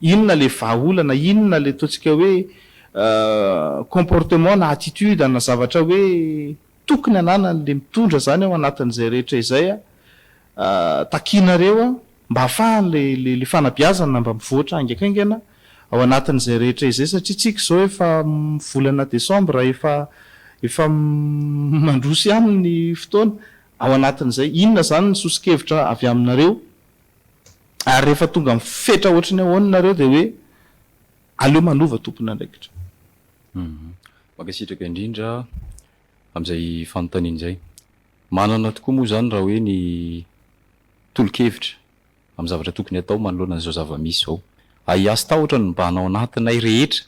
Inona ilay vahaolana, inona ilay ataontsika hoe comportement na attitude na zavatra hoe tokony hananan'ilay mitondra izany ao anatin'izay rehetra izay aho. Takianareo aho. mba hahafahan'ilay fanabeazana mba mivoatra haingankaingana ao anatin'izay rehetra izay satria isika izao efa volana desambra efa efa mandroso ihany ny fotoana ao anatin'izay inona izany ny soso-kevitra avy aminareo ary rehefa tonga amin'ny fetra ohatry ny ahoana nareo dia hoe aleo manova tompon'andraikitra. Mankasitraka indrindra amin'izay fanontaniana izay. Manana tokoa moa izany raha hoe ny tolo-kevitra amin'ny zavatra tokony hatao manoloana an'izao zava-misy izao. Ahiahy sy tahotra no mibahan ao anatinay rehetra,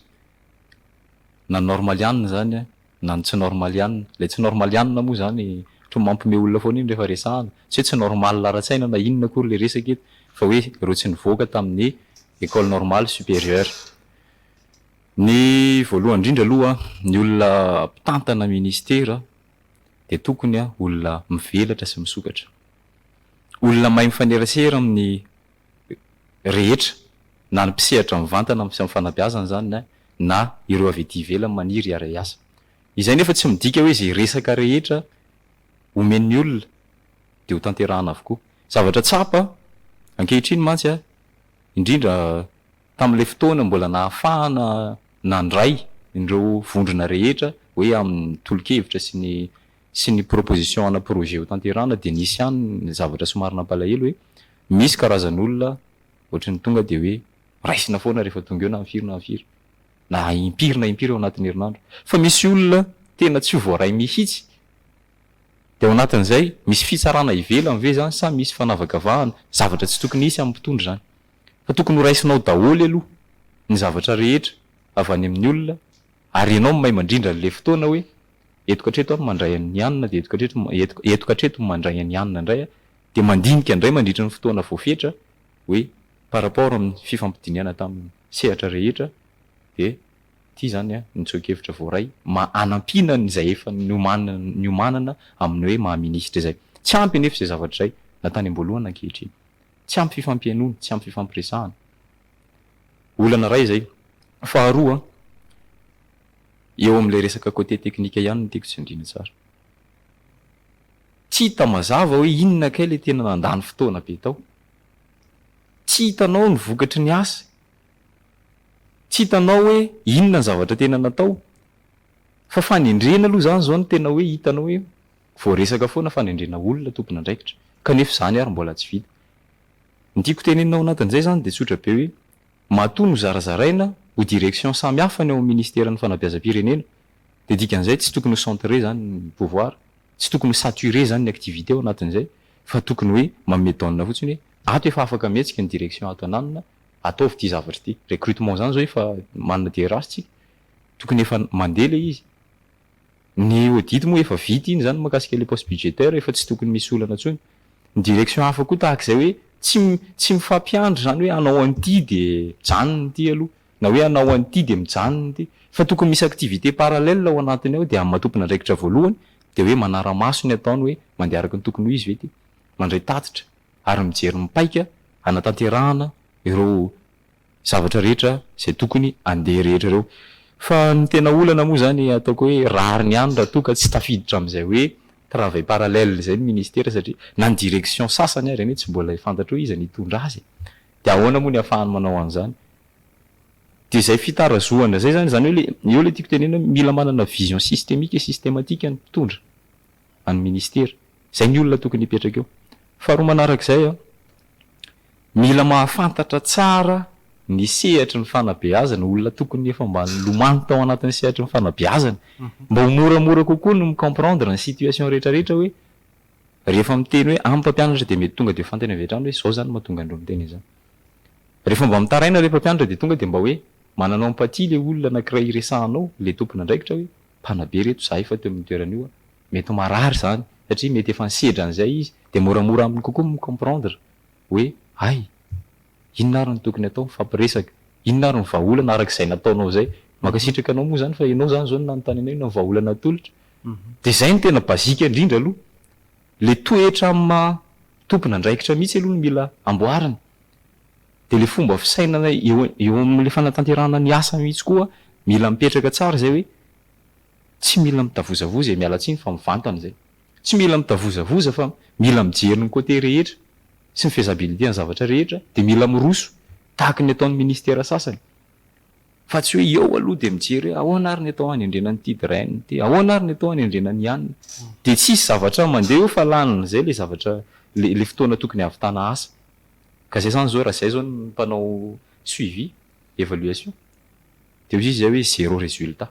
na ny normalianina izany na ny tsy normalianina. Ilay tsy normalianina moa izany ohatran'ny mampiomehy olona foana iny rehefa resahana. Tsy hoe tsy normal ara-tsaina na inona akory ilay resaka eto fa hoe ireo tsy nivoaka tamin'ny Ecole Normale Supérieure. Ny voalohany indrindra aloha, ny olona mpitantana minisitera dia tokony olona mivelatra sy misokatra. Olona mahay mifanerasera amin'ny rehetra, na ny mpisehatra mivantana amin'ny fanabeazana izany na ireo avy ety ivelany maniry hiara-hiasa. Izay nefa tsy midika hoe izay resaka rehetra omen'ny olona dia ho tanterahana avokoa. Zavatra tsapa ankehitriny mantsy, indrindra tamin'ilay fotoana mbola nahafahana nandray ireo vondrona rehetra hoe amin'ny tolo-kevitra sy ny sy ny proposition ana projet hotanterahana dia nisy ihany ny zavatra somary nampalahelo hoe misy karazan'olona ohatry ny tonga dia hoe raisina foana rehefa tonga eo na ny firy na ny firy na impiry na impiry ao anatin'ny herinandro fa misy olona tena tsy ho voaray mihitsy dia ao anatin'izay misy fitsarana ivelany ve izany sa misy fanavakavahana zavatra tsy tokony hisy amin'ny mpitondra izany Fa tokony ho raisinao daholo aloha ny zavatra rehetra avy any amin'ny olona ary ianao no may mandrindra an'ilay fotoana hoe eto ka hatreto aho no mandray an'i Anna dia eto ka hatreto eto eto ka hatreto no mandray an'i Anna indray aho dia mandinika indray mandritra ny fotoana voafetra hoe par rapport amin'ny fifampidinihana tamin'ny sehatra rehetra dia ity izany ny tsoa-kevitra voaray mba hanampiana an'izay efa niomanana niomanana amin'ny hoe maha-ministra izay. Tsy ampy anefa izay zavatra izay na tany am-boalohany na ankehitriny. Tsy ampy fifampihainoana, tsy ampy fifampiresahana. Olana iray izay. Faharoa, eo amin'ilay resaka côté technique ihany no tiako tsindriana tsara. Tsy hita mazava hoe inona kay ilay tena nandany fotoana be tao. Tsy hitanao ny vokatry ny asa. Tsy hitanao hoe inona ny zavatra tena natao. Fa fanendrena aloha izany izao no tena hoe hitanao hoe Voaresaka foana fanendrena olona tompon'andraikitra, kanefa izany ary mbola tsy vita. Ny tiako tenenina ao anatin'izay izany dia tsotra be hoe, matoa nozarazaraina ho direction samy hafa ny ao amin'ny Ministeran'ny Fanabeazam-pirenena, dia dikan'izay tsy tokony ho centrer izany ny pouvoir, tsy tokony ho saturer izany ny activité ao anatin'izay, fa tokony hoe manome donne fotsiny hoe, ato efa afaka mihetsika ny direction ato ananona, ataovy ity zavatra ity. Recrutement izany izao efa manana DRH tsika, tokony efa mandeha ilay izy. Ny audit moa efa vita iny zany mahakasika le poste budgétaire efa tsy tokony misy olana tsony. Ny direction hafa koa tahaka izay hoe tsy tsy mifampiandry zany hoe anao an'ity de mijanona ity aloha na hoe anao an'ity de mijanona ity fa tokony misy activité parallèle ao anatiny ao de amin'ny maha tompon'andraikitra voalohany de hoe manara-maso ny ataony hoe mandeha araka ny tokony ho izy ve ity. Mandray tatitra ary mijery ny paika hanatanterahana ireo zavatra rehetra izay tokony andeha rehetra ireo. Fa ny tena olana moa izany ataoko hoe rariny ihany raha toa ka tsy tafiditra amin'izay hoe travail parallèle izay ny ministera satria na ny direction sasany ary anie tsy mbola fantatro hoe iza no hitondra azy e! Dia ahoana moa ny hahafahany manao an'izany? Dia izay fitarazohana izay izany, izany hoe le, eo ilay tiako tenenina hoe mila manana vision systemique et systematique ny mpitondra an'ny ministera. Izay ny olona tokony hipetraka eo. Faharoa manarak'izay an! Mila mahafantatra tsara ny sehatry ny fanabeazana, olona tokony efa mba nilomano tao anatin'ny sehatry ny fanabeazana, mba ho moramora kokoa ny mi-comprendre ny situation rehetra rehetra hoe, rehefa miteny hoe amin'ny mpampianatra dia mety tonga dia ho fantany avy hatrany hoe izao zany no mahatonga an'ireo miteny an'izany. Rehefa mba mitaraina ilay mpampianatra dia tonga dia mba hoe manana empathie ilay olona anankiray iresahanao, ilay tompon'andraikitra hoe, mpanabe ireto, za efa teo amin'io toerana io aho, Mety ho marary izany satria mety efa nisedra an'izay izy dia moramora aminy kokoa ny mi-comprendre hoe hay! inona ary no tokony atao? Mifampiresaka. Inona ary ny vahaolana araka izay nataonao izay? Mankasitraka anao moa izany fa ianao izany izao no nanontany anay inona ny vahaolana atolotra. Dia izay no tena basique indrindra aloha. Ilay toetra amin'ny maha tompon'andraikitra mihitsy aloha no mila amboarina. Dia ilay fomba fisainana eo eo amin'ilay fanatanterahana ny asa mihitsy koa mila mipetraka tsara izay hoe Tsy mila mitavozavoza e, miala tsiny fa mivantana izay. Tsy mila mitavozavoza fa mila mijery ny côté rehetra sy ny faisabilité ny zavatra rehetra dia mila miroso tahaka ny ataon'ny ministera sasany fa tsy hoe eo aloha dia mijery hoe ahoana ary ny atao hanendrena an'ity drain ity, ahoana ary ny atao hanendrena ny an'ny dia tsisy zavatra mandeha eo fa lany izay ilay zavatra ilay ilay fotoana tokony hahavitana asa ka izay izany izao raha izay izao ny mpanao suivi, évaluation. Dia hoy izy izay hoe zéro résultat.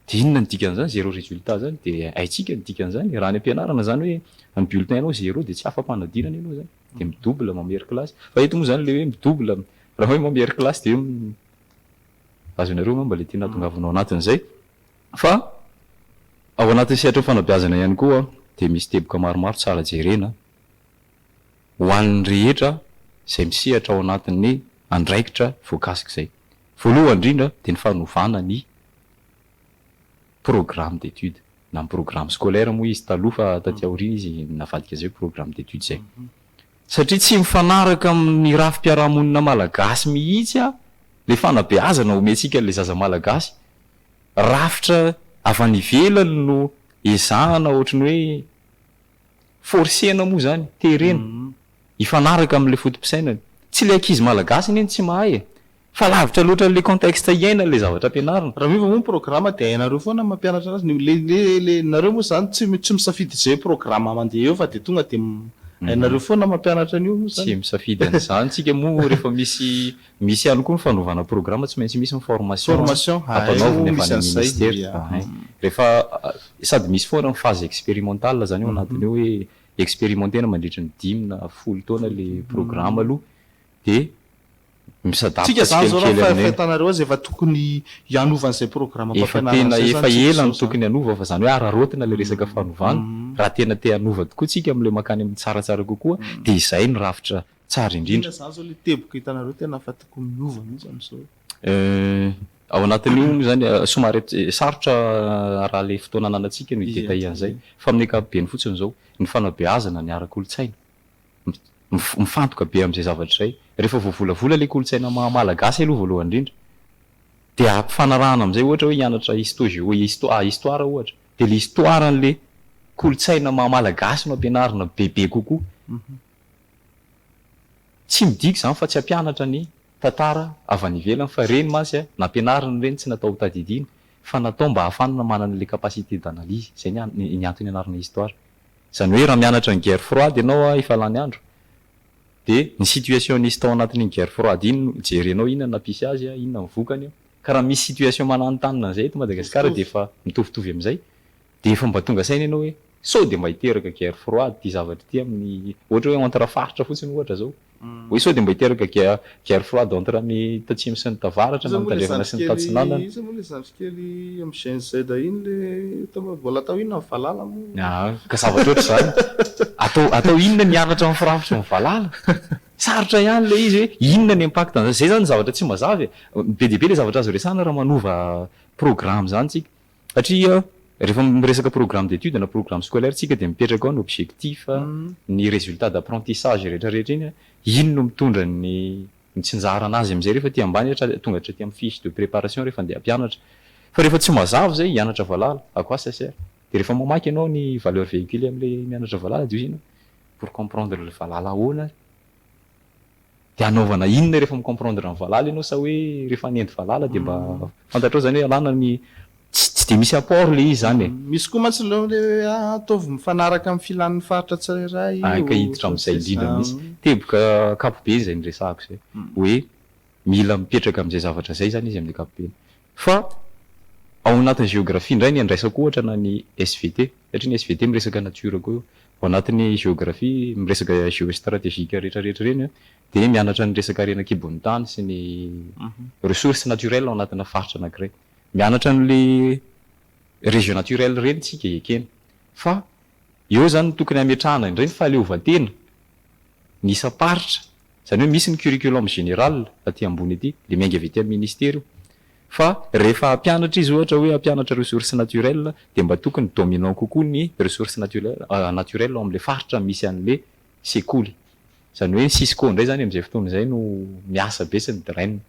Dia inona ny dikan'izany zéro résultat zany? Dia haintsika ny dikan'izany. Raha any am-pianarana izany hoe ny bulletin nao zéro dia tsy afa-panadinana ianao izany. Dia mi-double mamery kilasy. Fa eto moa izany ilay hoe mi-double, raha hoe mamery kilasy dia azonareo angamba ilay tiana hahatongavana ao anatin'izay. Fa ao anatin'ny sehatry ny fanabeazana ihany koa dia misy teboka maromaro tsara jerena. ho an'ny rehetra izay misehatra ao anatin'ny andraikitra voakasik'izay. Voalohany indrindra dia ny fanovana ny programme d'études na ny programme scolaire moa izy taloha fa taty aoriana izy navadika izay hoe programme d'études izay. Satria tsy mifanaraka amin'ny rafi-piarahamonina malagasy mihitsy ilay fanabeazana omentsika an'ilay zaza malagasy. Rafitra avy any ivelany no ezahana ohatry ny hoe. Forcer-na moa izany, terena, hifanaraka amin'ilay foto-pisainany. Tsy ilay ankizy malagasy anie no tsy mahay e! Fa lavitra loatra an'ilay contexte iainany ilay zavatra ampianarina. Raha miova moa ny programa dia hainareo foana ny mampianatra anazy. Ny le le le nareo moa izany tsy tsy misafidy izay programa mandeha eo fa dia tonga dia hainareo foana ny mampianatra an'io moa izany. Tsy misafidy an'izany tsika moa rehefa misy Misy ihany koa ny fanaovana programa tsy maintsy misy ny formation ampanaovina avy any amin'ny ministera ahay rehefa sady misy foana ny phase expérimentale zany ao anatiny ao hoe expérimentena mandritry ny dimy na folo taona le programa aloha de misadapaka tsikelikely aminay. Efa tena efa ela no tokony hanova fa zany hoe araraotina le resaka fanovana raha tena te hanova tokoa tsika amle makany amin'ny tsaratsara kokoa de izay ny rafitra tsara indrindra. Inona zany zao le teboka hitanareo tena fa tokony miova mintsy amzao e. Eh, ao anatin'io moa izany, somary sarotra raha le fotoana ananantsika no hi-detailler an'izay, fa amin'ny ankapobeny fotsiny izao, ny fanabeazana ny ara-kolontsaina, mifantoka be amin'izay zavatra izay. Rehefa voavolavola ilay kolontsaina maha Malagasy aloha voalohany indrindra, dia ampifanarahana amin'izay ohatra hoe hianatra histo-géo, histo, ah, histoire ohatra, dia le histoire an'le kolontsaina maha Malagasy no ampianarina bebe kokoa. Tsy midika izany fa tsy hampianatra ny tantara avy any ivelany fa ireny mantsy a, nampianarina ireny tsy natao ho tadidiana fa natao mba hahafana manana ilay capacité d'analyse, izay ny ny antony anarana histoire. Izany hoe raha mianatra ny guerre froide ianao a efa lany andro dia ny situation nisy tao anatin'iny guerre froide iny no jerenao inona no nampisy azy a, inona no vokany a. Ka raha misy situation mananontanona an'izay eto Madagasikara dia efa mitovitovy amin'izay Dia efa mba tonga saina ianao hoe sao dia mba hiteraka guerre froide ity zavatra ity amin'ny ohatra hoe entre faritra fotsiny ohatra izao. Hoe sao dia mba hiteraka guerre froide entre ny tatsimo sy ny tavaratra na ny tandrefana sy ny tatsinanana. Iza moa ilay zandry kely amin'ny Gen Z iny ilay mbola atao inona ny valala moa? Aa ka zavatra ohatr'izany. Atao atao inona ny hianatra amin'ny firafitry ny valala? Sarotra ihany ilay izy hoe inona ny impact an'izany. Izay izany ny zavatra tsy mazava e. Be dia be ilay zavatra azo resahana raha manova programme izany tsika. Satria rehefa miresaka programme d'études na programme scolaire tsika dia mipetraka ao ny objectif, ny résultat d'apprentissage rehetra rehetra iny, iny no mitondra ny mitsinjarana azy amin'izay rehefa aty ambany hatrany tonga hatraty amin'ny fiche de préparation rehefa andeha hampianatra. Fa rehefa tsy mazava izay hianatra valala, à quoi ça sert? Dia rehefa mamaky ianao ny valeur véhiculée amin'ilay mianatra valala dia hoy izy ianao, pour comprendre le valala ahoana ary? De hanaovana inona rehefa mi-comprendre ny valala ianao sa hoe rehefa hanendy valala de mba fantatrao zany hoe alana ny tsy de misy apport le izy zany e. Misy koa mantsy le hoe ataovy mifanaraka amin'ny filan'ny faritra tsirairay io. Hay ka hiditra amin'izay indrindra mihitsy. Teboka ankapobeny izay niresahako izay. Hoe mila mipetraka amin'izay zavatra izay zany izy amin'ny ankapobeny. Fa ao anatin'ny géographie indray ny andraisako ohatra na ny SVT, satria ny SVT miresaka nature koa io, ao anatin'ny géographie miresaka géostratégique rehetra rehetra ireny an, dia mianatra ny resaka harena an-kibon'ny tany sy ny ressources naturelles ao anatina faritra anankiray. Mianatra an'ilay région naturelle ireny isika ekena. Fa eo izany no tokony hametrahana indray ny fahaleovantena ny isam-paritra. Izany hoe misy ny curriculum général aty ambony aty, le miainga avy aty amin'ny ministera io. Fa rehefa hampianatra izy ohatra hoe hampianatra ressources naturelles dia mba tokony dominant kokoa ny ressources naturelles ao amin'ilay faritra misy an'ilay sekoly. Izany hoe ny cisco indray izany amin'izay fotoana izay no miasa be sy ny DREN.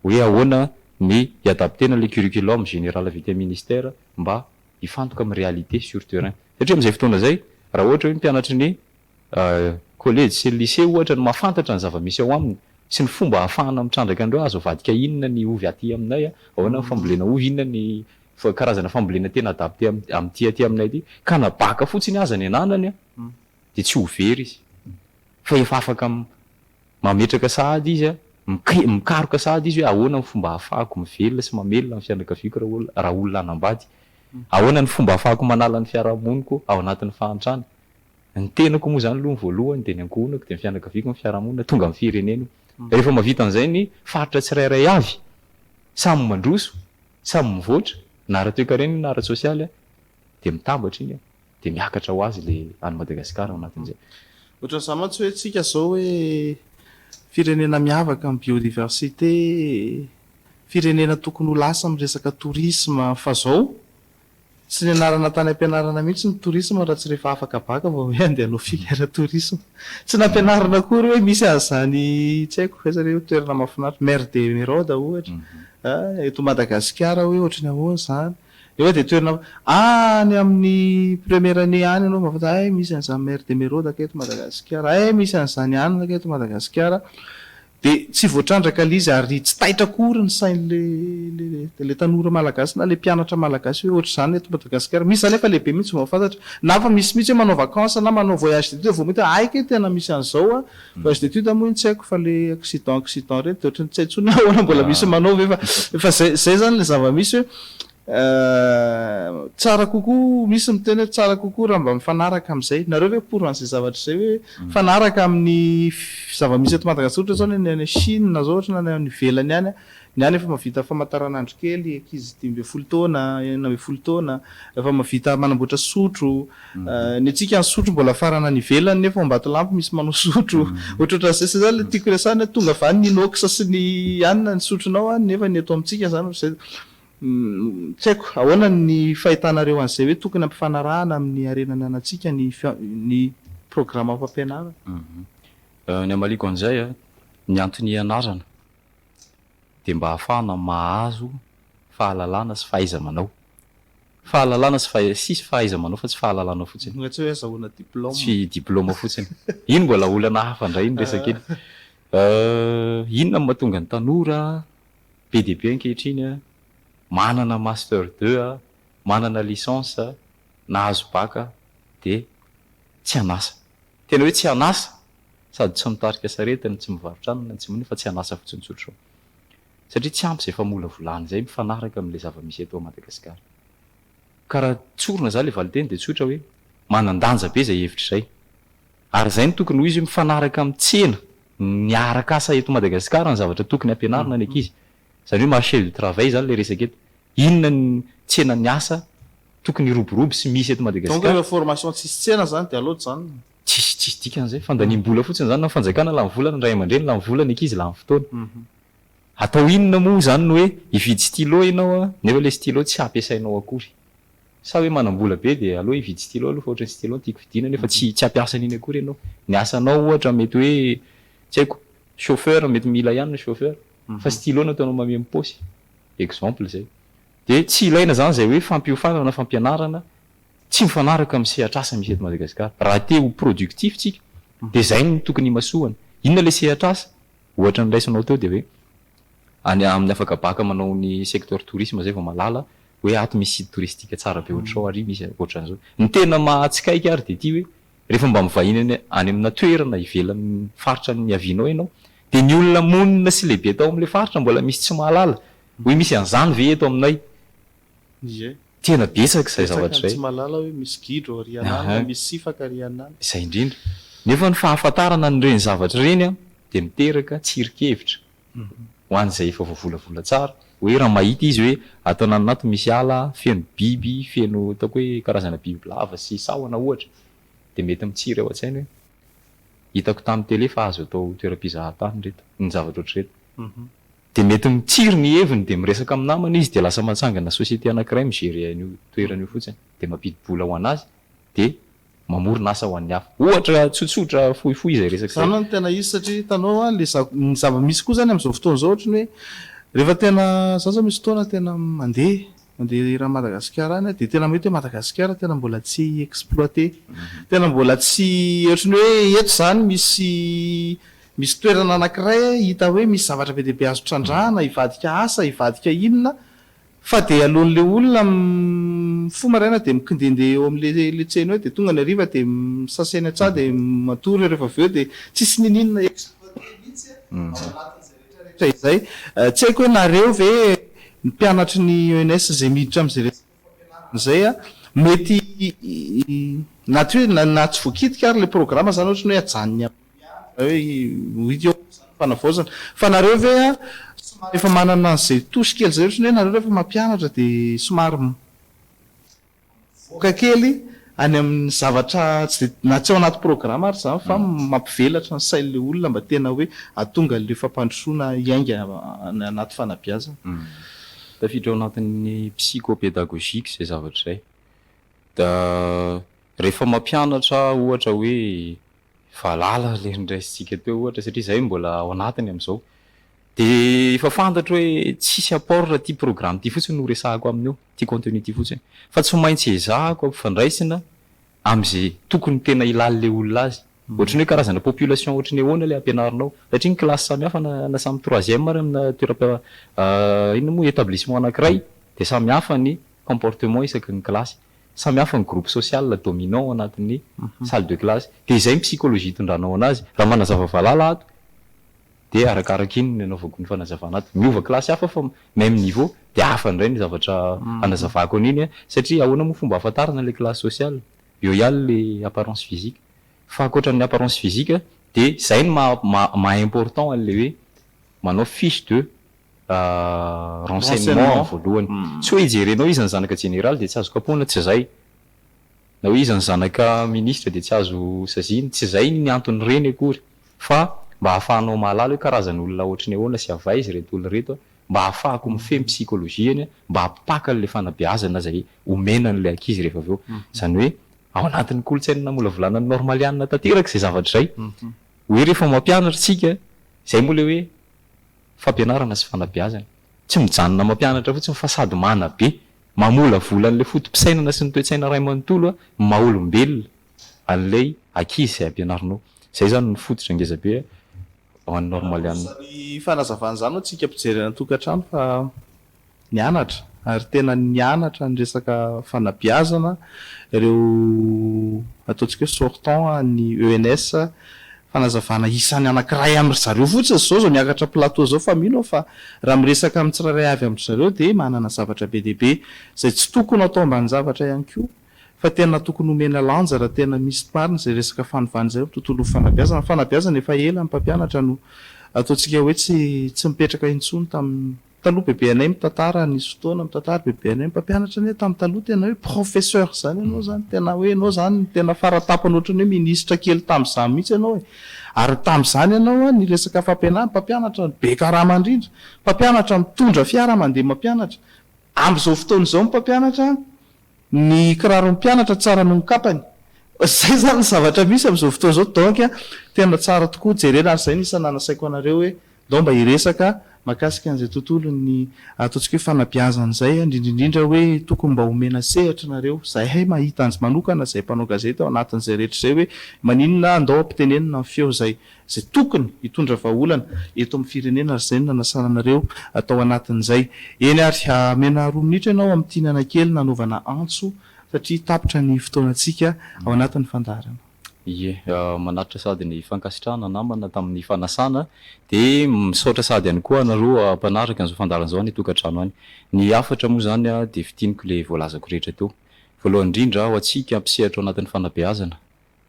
Hoe ahoana ny hi-adapter-na ilay curriculum général avy aty amin'ny ministera mba hifantoka amin'ny réalité sur terrain. Satria amin'izay fotoana izay, raha ohatra hoe ny mpianatry ny Kolejy sy lisea ohatra no mahafantatra ny zava-misy ao aminy sy ny fomba ahafahana mitrandraka an'ireo, azo avadika inona ny ovy aty aminay, ahoana ny fambolena ovy, inona ny karazana fambolena tena adapte amin'ity aty aminay ity, ka na baka fotsiny aza ny ananany dia tsy ho very izy fa efa afaka mametraka sahady izy, mikaroka sahady izy hoe ahoana ny fomba ahafahako mivelona sy mamelona ny fianakaviako raha olona hanambady, ahoana ny fomba ahafahako manala ny fiarahamoniko ao anatin'ny fahantrana. Ny tenako moa izany aloha ny voalohany, dia ny ankohonako, dia ny fianakaviako, ny fiarahamonina, tonga amin'ny firenena. Rehefa mahavita an'izay ny faritra tsirairay avy, samy mandroso, samy mivoatra, na ara-toekarena na ara-tsosialy, dia mitambatra iny, dia miakatra ho azy ilay an'i Madagasikara ao anatin'izay. Ohatran'izany mantsy hoe isika izao hoe firenena miavaka amin'ny biodiversité, firenena tokony ho lasa amin'ny resaka tourisme fa izao Tsy nianarana tany am-pianarana mihitsy ny tourisme raha tsy rehefa afaka bac vao hoe andeha hanao filière tourisme. Tsy nampianarina akory hoe misy an'izany tsy haiko aiza re toerana mahafinaritra, mer de Emeraude ohatra, eto Madagasikara hoe ohatry ny ahoana izany. Nefa dia toerana any amin'ny première année any ianao vao mahafantatra hay misy an'izany mer de Emeraude kay eto Madagasikara, hay misy an'izany anona kay eto Madagasikara. Dia tsy voatrandraka ilay izy ary tsy taitra akory ny sain'ilay tanora malagasy na ilay mpianatra malagasy hoe ohatr'izany eto Madagasikara. Misy izany anefa lehibe mihitsy vao mahafantatra. Na efa misy mihitsy hoe manao vacances na manao voyage d'études vao mahita hoe hay kay tena misy an'izao an! Voyage d'études moa iny tsy haiko fa ilay accident accident ireny dia ohatran'ny tsy hay intsony hoe ahoana mbola misy manao ve fa efa izay izay izany ilay zava-misy hoe Eh, tsara kokoa, misy miteny hoe tsara kokoa raha mba mifanaraka amin'izay. Nareo ve pour an'izay zavatra izay hoe mifanaraka amin'ny zava-misy eto Madagasikara, ohatra izao ny any any Chine izao ohatra na ny any ivelany any a, ny any efa mahavita famantaranandro kely ankizy dimy ambin'ny folo taona, enina ambin'ny folo taona, efa mahavita manamboatra sotro, eh, ny antsika ny sotro mbola afarana any ivelany nefa ao Ambatolampy misy manao sotro, ohatrohatran'izay, izay izany ilay tiako resahana hoe tonga avy any ny inox sy ny anona ny sotronao any nefa ny eto amintsika izany ohatr'izay. Tsy haiko, ahoana ny fahitanareo an'izay hoe tokony ampifanarahana amin'ny harena ananantsika ny ny programa fampianarana? Ny hamaliako an'izay, ny antony hianarana dia mba hahafahana mahazo fahalalana sy fahaiza-manao. Fahalalana sy fahai-, tsisy fahaiza-manao fa tsy fahalalana fotsiny. Mbola tsy hoe azahoana diplaoma. Tsy diplaoma fotsiny. Iny mbola olana hafa indray ny resaka iny. Inona no mahatonga ny tanora Be dia be ankehitriny a! Manana master deux a, manana licence a, nahazo bac a, dia tsy an'asa. Tena hoe tsy an'asa, sady tsy mitarika sarety no tsy mivarotra anana no tsy maninona fa tsy an'asa fotsiny tsotra. Satria tsy ampy izay famolavolana izay mifanaraka amin'ilay zava-misy eto Madagasikara. Ka raha tsorina izany ilay valinteny dia tsotra hoe, manan-danja be izay hevitra izay. Ary izay no tokony ho izy hoe mifanaraka amin'ny tsena. miaraka asa eto Madagasikara ny zavatra tokony hampianarina ny ankizy. Izany hoe marché du travail izany ilay resaka eto. Inona ny tsenan'ny asa tokony hiroborobo sy misy eto Madagasikara. Donc ilay formation tsisy tsena izany dia aleo janona. Tsisy tsisy dikany izay. Fandaniam-bola fotsiny izany. Ny fanjakana lany vola, ny ray aman-dreny lany vola, ny ankizy lany fotoana. Atao inona moa izany ny hoe hividy stylo ianao nefa ilay stylo tsy hampiasainao akory. Sa hoe manam-bola be dia aleo hividy stylo aloha fa ohatran'ny stylo no tiako vidiana nefa tsy tsy hampiasa an'iny akory ianao. Ny asanao ohatra mety hoe tsy haiko chauffeur mety mila ihany ny chauffeur fa stylo no ataonao mameno paosy. Exemple izay. Dia tsy ilaina izany izay hoe fampiofanana na fampianarana tsy mifanaraka amin'ny sehatr'asa misy eto Madagasikara. Raha te ho productif isika dia izay no tokony himasoana. Inona ilay sehatr'asa? Ohatra niraisanao teo dia hoe any amin'ny afaka baka manao ny secteur tourisme izay vao malala hoe ato misy site touristique tsara be ohatr'izao ary misy ohatran'izao. Ny tena mahatsikaiky ary dia ity hoe rehefa mba mivahiny any any amina toerana ivelan'ny faritra niavianao ianao dia ny olona monina sy lehibe tao amin'ilay faritra mbola misy tsy mahalala hoe misy an'izany ve eto aminay. Ie. Tena betsaka izay zavatra izay. Betsaka ny tsy mahalala hoe misy gidro ary any na Aha. misy sifaka ary any na. Izay indrindra. Nefa ny fahafantarana an'ireny zavatra ireny dia miteraka tsirinkevitra. ho an'izay efa voavolavola tsara hoe raha mahita izy hoe ato ananinato misy ala feno biby feno ataoko hoe karazana bibilava sy sahona ohatra dia mety mitsiry ao an-tsainy hoe hitako tamin'ny tele fa azo atao toeram-pizahatany ireto ny zavatra ohatr'ireto dia mety mitsiry ny heviny dia miresaka amin'ny namany izy dia lasa matsangana société anankiray mi-gérer an'io toerana io fotsiny dia mampidi-bola ho an'azy dia mamorona asa ho an'ny hafa. Ohatra tsotsotra fohifohy izay resaka izay. Izany no tena izy satria hitanao an, le ny zava-misy koa izany amin'izao fotoana izao ohatran'ny hoe rehefa tena, izaho izao misy fotoana tena mandeha, mandeha eran'i Madagasikara any aho dia tena mahita hoe Madagasikara tena mbola tsy exploiter, tena mbola tsy ohatran'ny hoe eto izany misy misy toerana anankiray hita hoe misy zavatra be dia be azo trandrahana, hivadika asa, hivadika inona, Fa dia aloan'ilay olona mifoha maraina dia mikindehindeha eo amin'ilay tsena eo dia tonga ny hariva dia misasa eny an-tsaha dia matory ary rehefa avy eo dia tsisy nininona exploiter mihitsy ao anatin'izay rehetrarehetra izay. Tsy haiko hoe nareo ve ny mpianatry ny ENS izay miditra amin'izay resaka fampianarana izay an, mety na tsy hoe na tsy voakitika ary ilay programa izany ohatran'ny hoe ajanony amin'ny. Izay hoe ho hita eo amin'izany fanavaozana. Fa nareo ve somary efa manana an'izay touche kely izay ohatrany hoe nareo rehefa mampianatra dia somary mivoaka kely any amin'ny zavatra tsy dia, na tsy ao anaty programa ary izany fa mampivelatra ny sain'ilay olona mba tena hoe hahatonga an'ilay fampandrosoana hiainga any anaty fanabeazana? Tafiditra ao anatin'ny psycho-pédagogique izay zavatra izay. Dia rehefa mampianatra ohatra hoe Valala ilay noraisintsika teo ohatra satria izahay mbola ao anatiny amin'izao. Dia efa fantatro hoe tsisy apport raha ity programme ity fotsiny no resahako aminy eo, ity contenu ity fotsiny. Fa tsy maintsy ezahako ampifandraisina amin'izay tokony tena hilalin'ilay olona azy. Ohatran'ny hoe karazana population ohatry ny ahoana ilay ampianarinao. Satria ny classe samihafa na na samy troisième ary amina toeram-pia inona moa, établissement anankiray dia samihafa ny comportement isaky ny classe. Samy hafa ny groupe social dominant ao anatin'ny salle de classe. Dia izay ny psychologie itondranao anazy. Raha manazava valala ato, dia arakaraka iny no anaovako ny fanazavana ato. Miova classe hafa fa même niveau, dia hafa indray ny zavatra anazavako an'iny an! Satria ahoana moa fomba ahafantarana ilay classe social? Eo ihany ilay apparence physique. Fa ankoatra ny apparence physique, dia izay no maha-maha-important an'ilay hoe manao fiche de. renseignement ny voalohany. Tsy hoe hijerenao iza ny zanaka jeneraly dia tsy azo kapohina, tsy izay. Na hoe iza ny zanaka minisitra dia tsy azo saziana, tsy izay ny anton'ireny akory. Fa mba hahafahanao mahalala hoe karazan'olona ohatry ny ahoana sy avy aiza ireto olona ireto, mba hahafahako mifehy ny psychologie-ny, mba hampipaka an'ilay fanabeazana izay omena an'ilay ankizy rehefa avy eo. Izany hoe ao anatin'ny kolontsaina namolavolanan'ny normaliana tanteraka izay zavatra izay. Hoe rehefa mampianatra isika, izay moa ilay hoe Fampianarana sy fanabeazana. Tsy mijanona mampianatra fotsiny fa sady manabe, mamolavola an'ilay foto-pisainana sy ny toe-tsaina iray manontolo ny maha olombelona an'ilay ankizy izay ampianarinao. Izay izany no fototra ngeza be ho an'ny normalianina. Asan'ny fanazavana izany ho antsika mpijery an-tokantrano fa. nianatra ary tena nianatra ny resaka fanabeazana ireo ataontsika hoe sortant an'ny ENS, fanazavana isany anankiray amin-dry zareo fotsiny izao izao miakatra plateau izao fa mino aho fa raha miresaka amin'ny tsirairay avy amin-dry zareo dia manana zavatra be dia be izay tsy tokony atao ambanin-javatra ihany koa fa tena tokony omena lanja raha tena misy marina izay resaka fanovana izay amin'ny tontolon'ny fanabeazana. Ny fanabeazana efa ela ny mpampianatra no ataontsika hoe tsy mipetraka intsony tamin'ny Taloha bebe anay mitantara nisy fotoana mitantara bebe anay mpampianatra anay tamin'ny taloha tena hoe professeur zany ianao zany tena hoe ianao zany tena faratapany ohatrany hoe ministra kely tamin'izany mihitsy ianao e ary tamin'izany ianao a ny resaka fampianarana mpampianatra no be karama indrindra mpampianatra mitondra fiara mandeha mampianatra amin'izao fotoana izao ny mpampianatra Ny kiraron'ny mpianatra tsara noho ny kapany. Izay izany ny zavatra misy amin'izao fotoana izao donc tena tsara tokoa jerena ary izay no isan'ny nasaiko anareo hoe ndao mba hiresaka makasika an'izay tontolon'ny ataontsika hoe fanabeazana izay indrindraindrindra hoe tokony mba homena sehatra nareo izahay mahita anjy manokana izay mpanao gazety ao anatin'izay rehetra izay hoe maninona ndao ampitenenina ny feo izay izay tokony hitondra vahaolana eto amin'ny firenena ary izay no nanasana anareo tao anatin'izay. Eny ary hamena roa minitra ianao amin'ity ny anakely nanaovana antso satria tapitra ny fotoanantsika ao anatin'ny fandaharana. Ie, manaritra sady ny fankasitrahana namana tamin'ny fanasana dia misaotra sady ihany koa anareo mpanaraka an'izao fandaharana izao any an-tokantrano any. Ny hafatra moa izany dia fintiniko ilay voalazako rehetra teo. Voalohany indrindra ho antsika mpisehatra ao anatin'ny fanabeazana,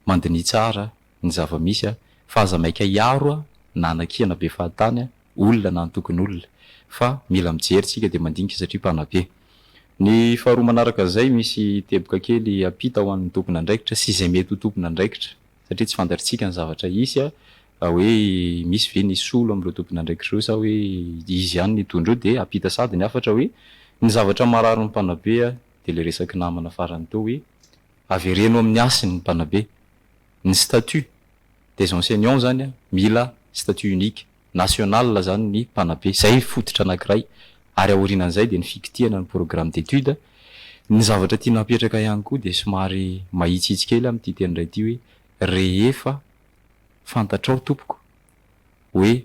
Mandiniha tsara ny zava-misy a! Fa aza maika hiaro a! Na anakiana be fahatany a! Olona na antokon'olona! Fa mila mijery tsika dia mandinika satria mpanabe. Ny faharoa manaraka an'izay, misy teboka kely ampita ho an'ny tompon'andraikitra sy izay mety ho tompon'andraikitra satria tsy fantatritsika ny zavatra hisy a! Hoe misy ve ny hisolo amin'ireo tompon'andraikitra ireo sa hoe izy ihany no hitondra eo dia ampita sady ny hafatra hoe ny zavatra mararin'ny mpanabe a! Dia ilay resaky namana farany teo hoe Avereno amin'ny hasiny ny mpanabe. Ny statut des enseignants zany mila statut unique, national zany ny mpanabe. Zay fototra anakiray. Ary aorinan'izay dia ny fikitihana ny programme d'études. Ny zavatra tiana apetraka ihany koa dia somary mahitsitsy kely aho amin'ity teny iray ity hoe rehefa fantatrao tompoko hoe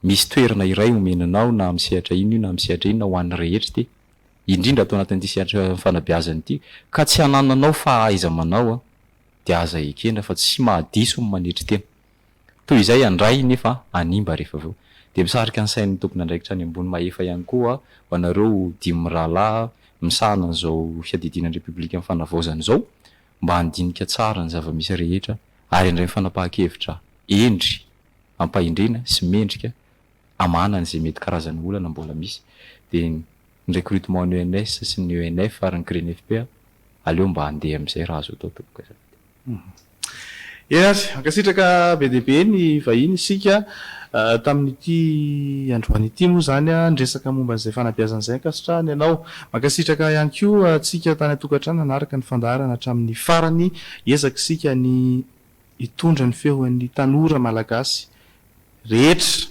Misy toerana iray omena anao na amin'ny sehatra inona io na amin'ny sehatra inona ho an'ny rehetra ity, indrindra ato anatin'ity sehatra fanabeazana ity, ka tsy anananao fahaiza-manao dia aza ekena fa tsy mahadiso ny manetry tena. Toy izay handray nefa hanimba rehefa avy eo. Dia misarika ny sain'ny tompon'andraikitra any ambony mahefa ihany koa ho anareo dimy mirahalahy misahana an'izao fiadidiana ny Repoblikan'ny Fanavaozana izao mba handinika tsara ny zava-misy rehetra ary handray fanapahan-kevitra hendry ampahendrena sy mendrika amahana an'izay mety karazana olana mbola misy dia ny recrutement ny ENS sy ny ENF ary ny Grenfp aleo mba andeha amin'izay raha azo atao tompoko azafady. Eny ary, mankasitraka be dia be ny vahiny isika tamin'ity androany ity moa izany niresaka momba an'izay fanabeazana izay ankasitrahany ianao. Mankasitraka ihany koa antsika tany an-tokantrano nanaraka ny fandaharana hatramin'ny farany, hiezaka isika ny hitondra ny feon'ny tanora malagasy rehetra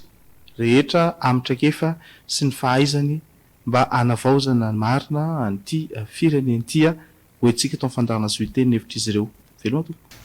rehetra amin'ny traikefa sy ny fahaizany mba hanavaozana marina an'ity firenena ity hoy antsika tao fandaharana zohiteny ny hevitr'izy ireo. Veloma tompoko.